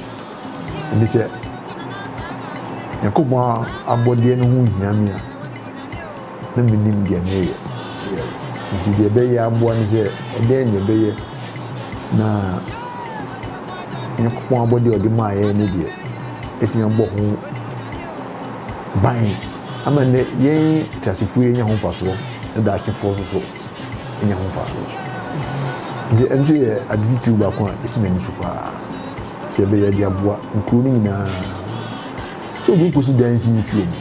ɛnde sɛ nyankopɔn abɔdeɛ no ho hia me a na menim deɛ meyɛ nti deɛ ɛbɛyɛ aboa ne sɛ ɛdɛn deɛ ɛbɛyɛ na nyankopɔn abɔdeɛ ɔde maa yɛn ne deɛ ɛtumi abɔ ho ban ama nnɛ yɛn teasefoɔ yɛnya ho mfasoɔ ɛda akyefoɔ so so nya ho mfaso. Enti ɛno nso yɛ ade titiriw baako a esi m'ani so paa sɛ yɛbɛyɛ de aboa nkurow no nyinaa. Sɛ obi kosi dan si nsuo mu,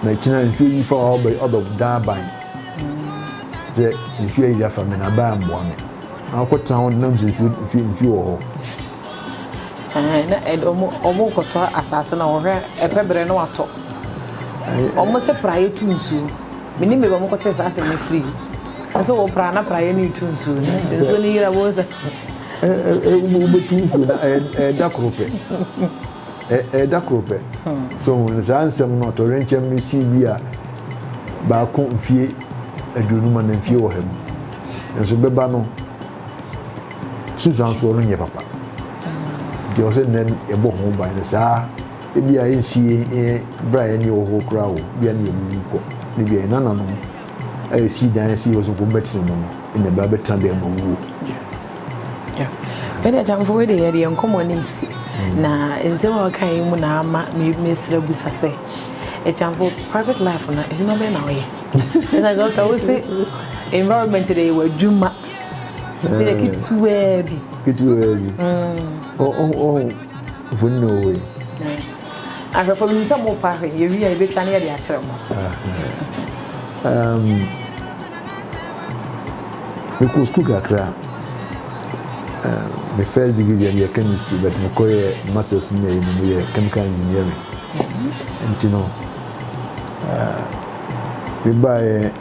na ɛkyina nsuo yi fa hɔ ɔbɛ dan aban. Sɛ nsuo ayiri afa me na aban ammoa me. Akɔtena hɔ nam sɛ nsuo nsuo nsuo wɔ hɔ. Ɛhɛn, na ɛde ɔmo ɔmo kɔtɔ asaase no ɔhwɛ ɛpɛ brɛ no watɔ. Ɔmo se praeɛ tu nsuo. Menim baabi a ɔmo kɔtee saa asɛm no firi. Ɔmo se wɔ pra na praeɛ no retu nsuo no nti nsuo no yera wohu sɛ. Wobɛtu nsuo no ɛda koro pɛ. Ɛda koro pɛ. So hu saa nsɛm no ɔtɔwrɛnkyɛm no sii bi a baako mfie aduonum anaa mfie ɔha mu. Nanso bɛba no. Susan nso ɔno nyɛ papa nti ɔsɛ nnɛ yɛbɔ ho ban no saa ebi a ɛnsi yɛn berɛ a yɛne wɔ hɔ koraa o bia ne yɛwuwu kɔ ne bia yɛn nananom a yɛsi dan asi hɔ sɛ nkɔm bɛtena mu no ɛna ɛbaa bɛtena dan mu awuo ɛne atamfo wei deɛ yɛdeɛ nkɔmmɔ no nsi hmm. na nsɛm a wɔka yi mu na ama mesrɛ busa sɛ atamfo private life no adwuma bɛɛ na ɔyɛ ɛna sɛ ɔka wo se environment deɛ yɛwɔ adwuma Ɛyɛ ketewaa bi. Ketewaa bi. Ɔhɔ mfoni na ɔwɔ yi. Ahwɛfo mi sɛ mo pa ahwɛ yɛ wi a yɛ bɛ twa ne yɛ de akyerɛ mo. Me kɔ sukuu kakra. Me first degree deɛ yɛ chemistry but me kɔ yɛ masters ne yɛ no yɛ chemical engineering. Nti no, me ba yɛ.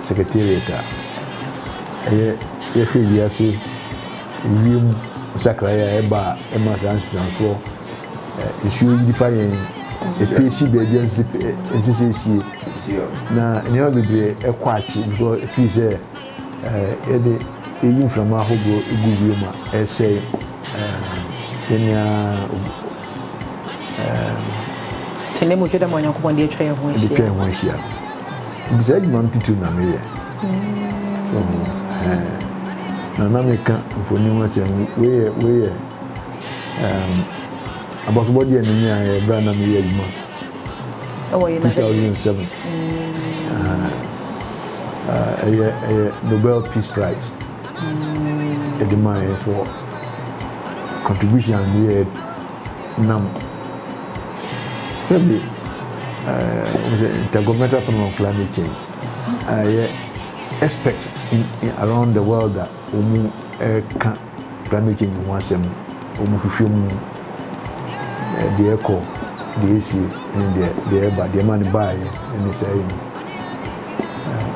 Secretariat a ɛyɛ yɛhwɛ wiase wiem nsakraeɛ a ɛba a ɛma saa nsusuansoɔ nsuo yiri fa yɛn ɛpie si baabi a ɛnsɛ sɛ ɛsie na nneɛma bebree ɛkɔ akye because ɛfiri sɛ yɛde ɛyi mframa ahodoɔ ɛgu wiem a ɛsɛ yɛnea ɛnɛ mu hwɛ dɛ ma onyankopɔn de atwa yɛn ho ahyia nti saa adwuma no titiri na meyɛ so ho ɛɛ na na meka mfoni ho asɛm weyɛ weyɛ ɛɛm abasobɔdeɛ no nyinaa yɛ bere a na meyɛ adwuma 2007 ɛyɛ ɛyɛ Nobel Peace Prize ɛde maa yɛ for contribution yɛ. nam sɛbi sɛ intergovernmental panel on climate change a ɛyɛ experts in, in around the world a wɔn ɛka climate change ho asɛm wɔn hwehwɛ mu deɛ ɛkɔ deɛ ɛsi ɛne deɛ deɛ ɛba deɛ ɛma ne baayɛ ɛne sɛ ɛyɛ no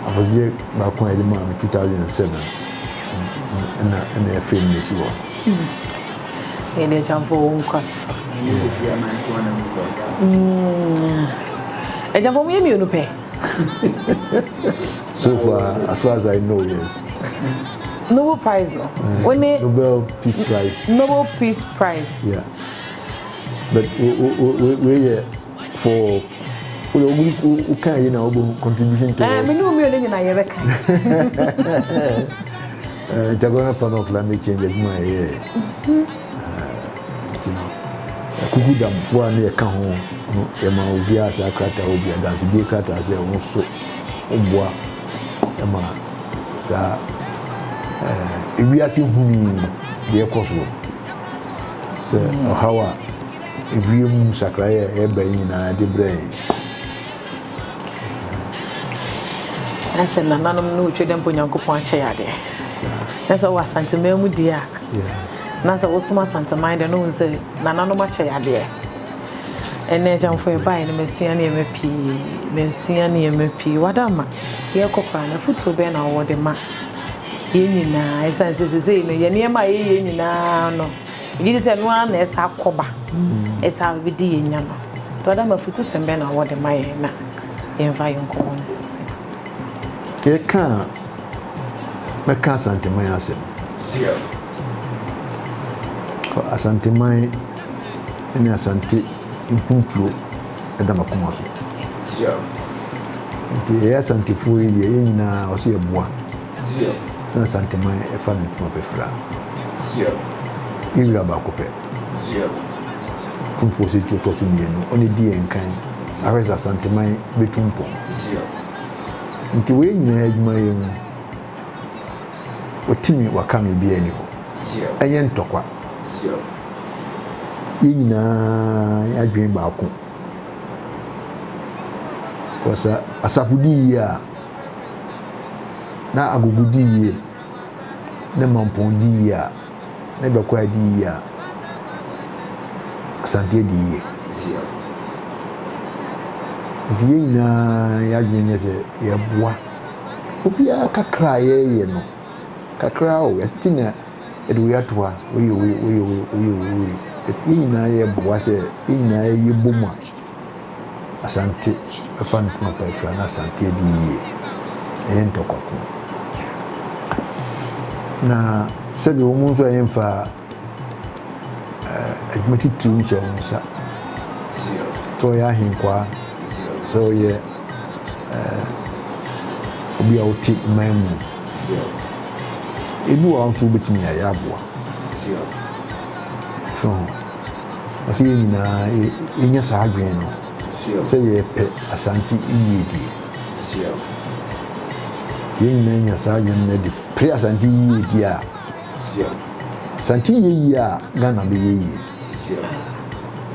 afɔsogye baako a yɛde maa no 2007 ɛna ɛna ɛfɛ mu na ɛsi hɔ. Yɛde agyamfoɔ wo nkwa so. Agyamfoɔ mm. mo yɛ mmienu pɛ. so far as far as I know yes. Nobel Prize no. Mm. When it, Nobel Peace Prize. Nobel Peace Prize. Yeah. But we we we we yeah. for wode woguri woka yi na wobɔ contribution to eh, mene omienu nyina yɛbɛka nti agorɔ no fa no climate change adwuma ɛyɛ nti no kuku damfoɔ a ne yɛka ho no yɛma obiaa saa krataa wɔ bi adansedie krataa sɛ wo so woboa ma saa ewiase huni deɛ ɛkɔ soɔ sɛ ɔhaw a Ewiem nsakrae a ɛreba yi nyinaa de brɛ yɛn. Na sɛ nananom ne otwa dɛ mpo Nyankopɔn akyɛ yɛ ade. Na sɛ ɔwɔ Asanteman mu deɛ a. Na sɛ wosom Asanteman deɛ na wohu sɛ nananom akyɛ yɛ adeɛ. Ɛnɛ Agyamfo yɛbaeɛ no masua nneɛma pii. Masua nneɛma pii. Wadamma, yɛrekɔ koraa no afotuo bɛn na wowɔ de ma yɛn nyinaa? Ɛsiane sɛ seesei no yɛn nneɛma a yɛyɛ nyinaa no, Megye di sɛ ɛno ara na ɛsɛ akɔba, ɛsɛ a wobɛdi yɛn nya no. Brada Mo, afutusɛm bɛn na wowɔ de ma yɛn na yɛmfa yɛn nkɔ wɔn nkyɛn? Yɛka a, mɛka Asanteman asɛm. Asanteman ne Asante mpuntuo da m'akoma so. Nti yɛyɛ Asantefoɔ yi deɛ, yɛn nyinaa ɔsɛ yɛboa. na Asanteman fa no ntoma bɛfira. Ne wira baako pɛ. Tumfoɔ Osei Tuo tɔ so mmienu, ɔne di yɛn kan, ahwɛ sɛ Asanteman bɛtu mpɔn. Nti wei nyinaa adwuma yɛ mu, wɔtumi wɔaka no obiara ni hɔ. Ɛnyɛ ntɔkwa. Yɛn nyinaa adwene baako. Kɔsa asafo di yie a, na agogo di yie, ne mampɔn di yie a, ne dɔkɔɛ di yie a, asanteɛ di yie. Nti yɛn nyinaa yɛadwene nyɛ sɛ yɛboa obiara kakra a yɛyɛ no kakra o yɛte na yɛde wei ato a wei wei wei wei wei wei yɛn nyinaa yɛboa sɛ yɛn nyinaa yɛbɔ mu a Asante fa no pono pɛɛ firi a na Asante adi yie. Ɛyɛ ntɔkwa ko. Na sɛdeɛ wɔn nso ɛyɛ mfa adwuma titiriw nhyɛ wɔn nsa. Sɛ ɔyɛ ahenkwaa, sɛ ɔyɛ obi a ɔte man mu. Ebi wɔ hɔ nso wobɛtumi ayɛ aboa. So ho. Ɔsɛ yɛn nyinaa yɛnya saa adwene no sɛ yɛpɛ Asante yiyedie. Nti yɛn nyinaa nya saa adwene no de pere Asante yiyedie a, Asante yɛ yie a Ghana bɛyɛ yie.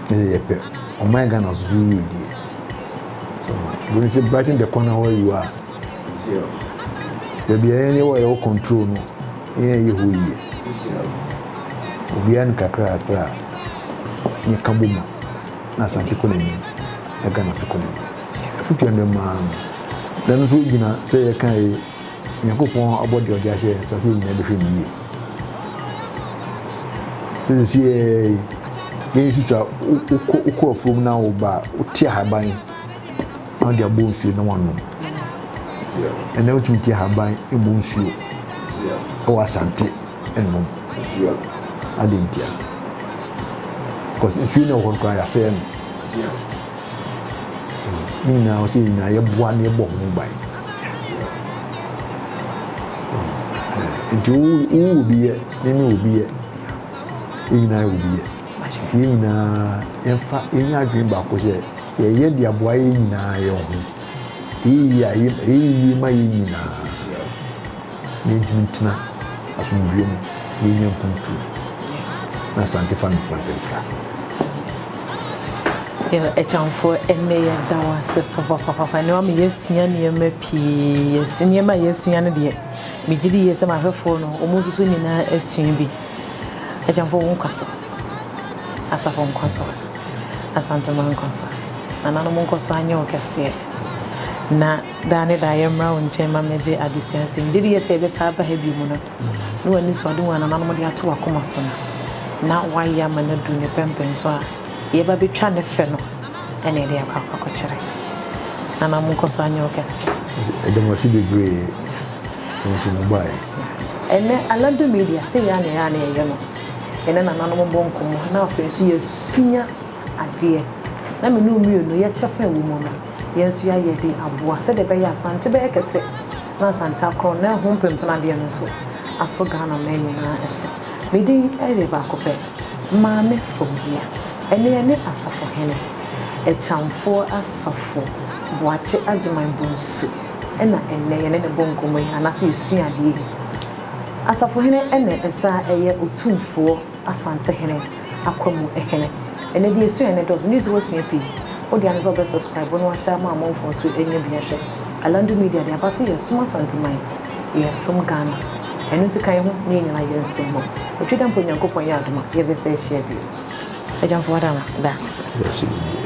Na sɛ yɛpɛ ɔman Ghana nso so yiyedie. So, when you say brighten the corner where you are, Sion. Baabi a yɛn wɔ yɛwɔ control no yɛn ɛyɛ hɔ yie. Sion. Obiara ne kakra kakra a yɛn ka bɔ mu na Asante kɔ n'anim na Ghana nso kɔ n'anim. Afutu yɛn de maa no na ɛno nso gyina sɛ yɛ kan yi Nyankopɔn abɔ deɛ ɔde ahyɛ yɛn nsa sɛ nyinaa bɛhwɛ ne yie. Sɛ sisi yɛ yɛn susu a wokɔ afuom na woba wote ahaban na wɔde abɔ mfie na wɔanom. Ɛnna wotumi te ahaban mmɔ nsuo wɔ asante nom. Ade ntia. Because nsuo no ɛwɔ hɔ koraa yɛasɛe no. Ne nyinaa ɔsɛ nyinaa yɛboa na yɛbɔ ho ban. Nti wo wo obi yɛ, ne ne obi yɛ, ne nyinaa yɛ obi yɛ. Yɛn nyinaa, yɛmfa nnya adwene baako sɛ, yɛyɛ de aboa yɛn nyinaa yɛn ho. Ɛyɛ yie a, ɛyɛ yie ma yɛn nyinaa, na yɛntumi ntena asomdwoeɛ mu, na yɛnya mpuntuo, na Asante fa no kwan pa mfira. Yɛn agyamfoɔ, ɛnnɛ yɛda wo ase papapapa. Ɛnnɛ wama yɛasua nneɛma pii. Nneɛma a yɛasua no deɛ, megye di yie sɛ m'ahwɛfoɔ no, wɔn nso so nyinaa asua bi. Agyamfo wo nkɔ so. Asafo nkɔ so. Asantema nkɔ so. Nananom nkɔ so anyɛ wo kɛseɛ. Na daa ne daa yɛmmra wo nkyɛn ma mmɛgye adesua nsɛm. Gyedi yɛ sɛ yɛbɛsa aba ha bio mu no, ne w'anisoade hu a nananom de ato w'akoma so no, na woayɛ ama no adu ne pɛmpɛn so a, deɛ ɛba bɛtwa ne fɛ no ɛna ɛde akɔ akɔkɔkyerɛ. Nananom nkɔ so anyɛ wo kɛseɛ. Yɛda mo ase bebree. Ɛno nso mo baeɛ. Ɛnɛ Anadwo Media sɛyɛa na ɛyɛa na yɛyɛ no, yɛne nananom bɔ nkɔmmɔ na afei nso yɛsua adeɛ na me ne wo mmienu yɛ kyɛfa ɛwɔ mu no yɛn nso yɛayɛ de aboa sɛdeɛ ɛbɛyɛ a Asante bɛyɛ kɛse na Asante akorɔn na ɛho mpempenadeɛ no nso asɔ Ghana man nyinaa so. Me din yɛ baako pɛ, Maame Fauziah. Ɛnɛ yɛne Asafohene, Ɛkyamfoɔ Asafo Boakye Agyeman Bonsu. na ɛnnɛ yɛne no bɔ nkɔmmɔ yi anaasɛ yɛsua adeɛ yi. Asafohene na ɛsan yɛ Otumfoɔ Asantehene Akwamu Hene. Ɛnnɛ deɛ yɛsua no dɔɔso, megye sɛ woasua pii. Wo deɛ ne sɛ wobɛ subscribe na wahyɛ ama amanfoɔ nso anya bi ahwɛ. Alandu Media deɛ aba sɛ yɛsom Asanteman, yɛsom Ghana. Ɛno nti ka yɛn ho na yɛn nyinaa yɛnsom mmɔ. Otwi da mpo Nyankopɔn yɛ adom a yɛbɛsan ahyia bio. Agyamfoɔ Adama, daase. Daase bebree.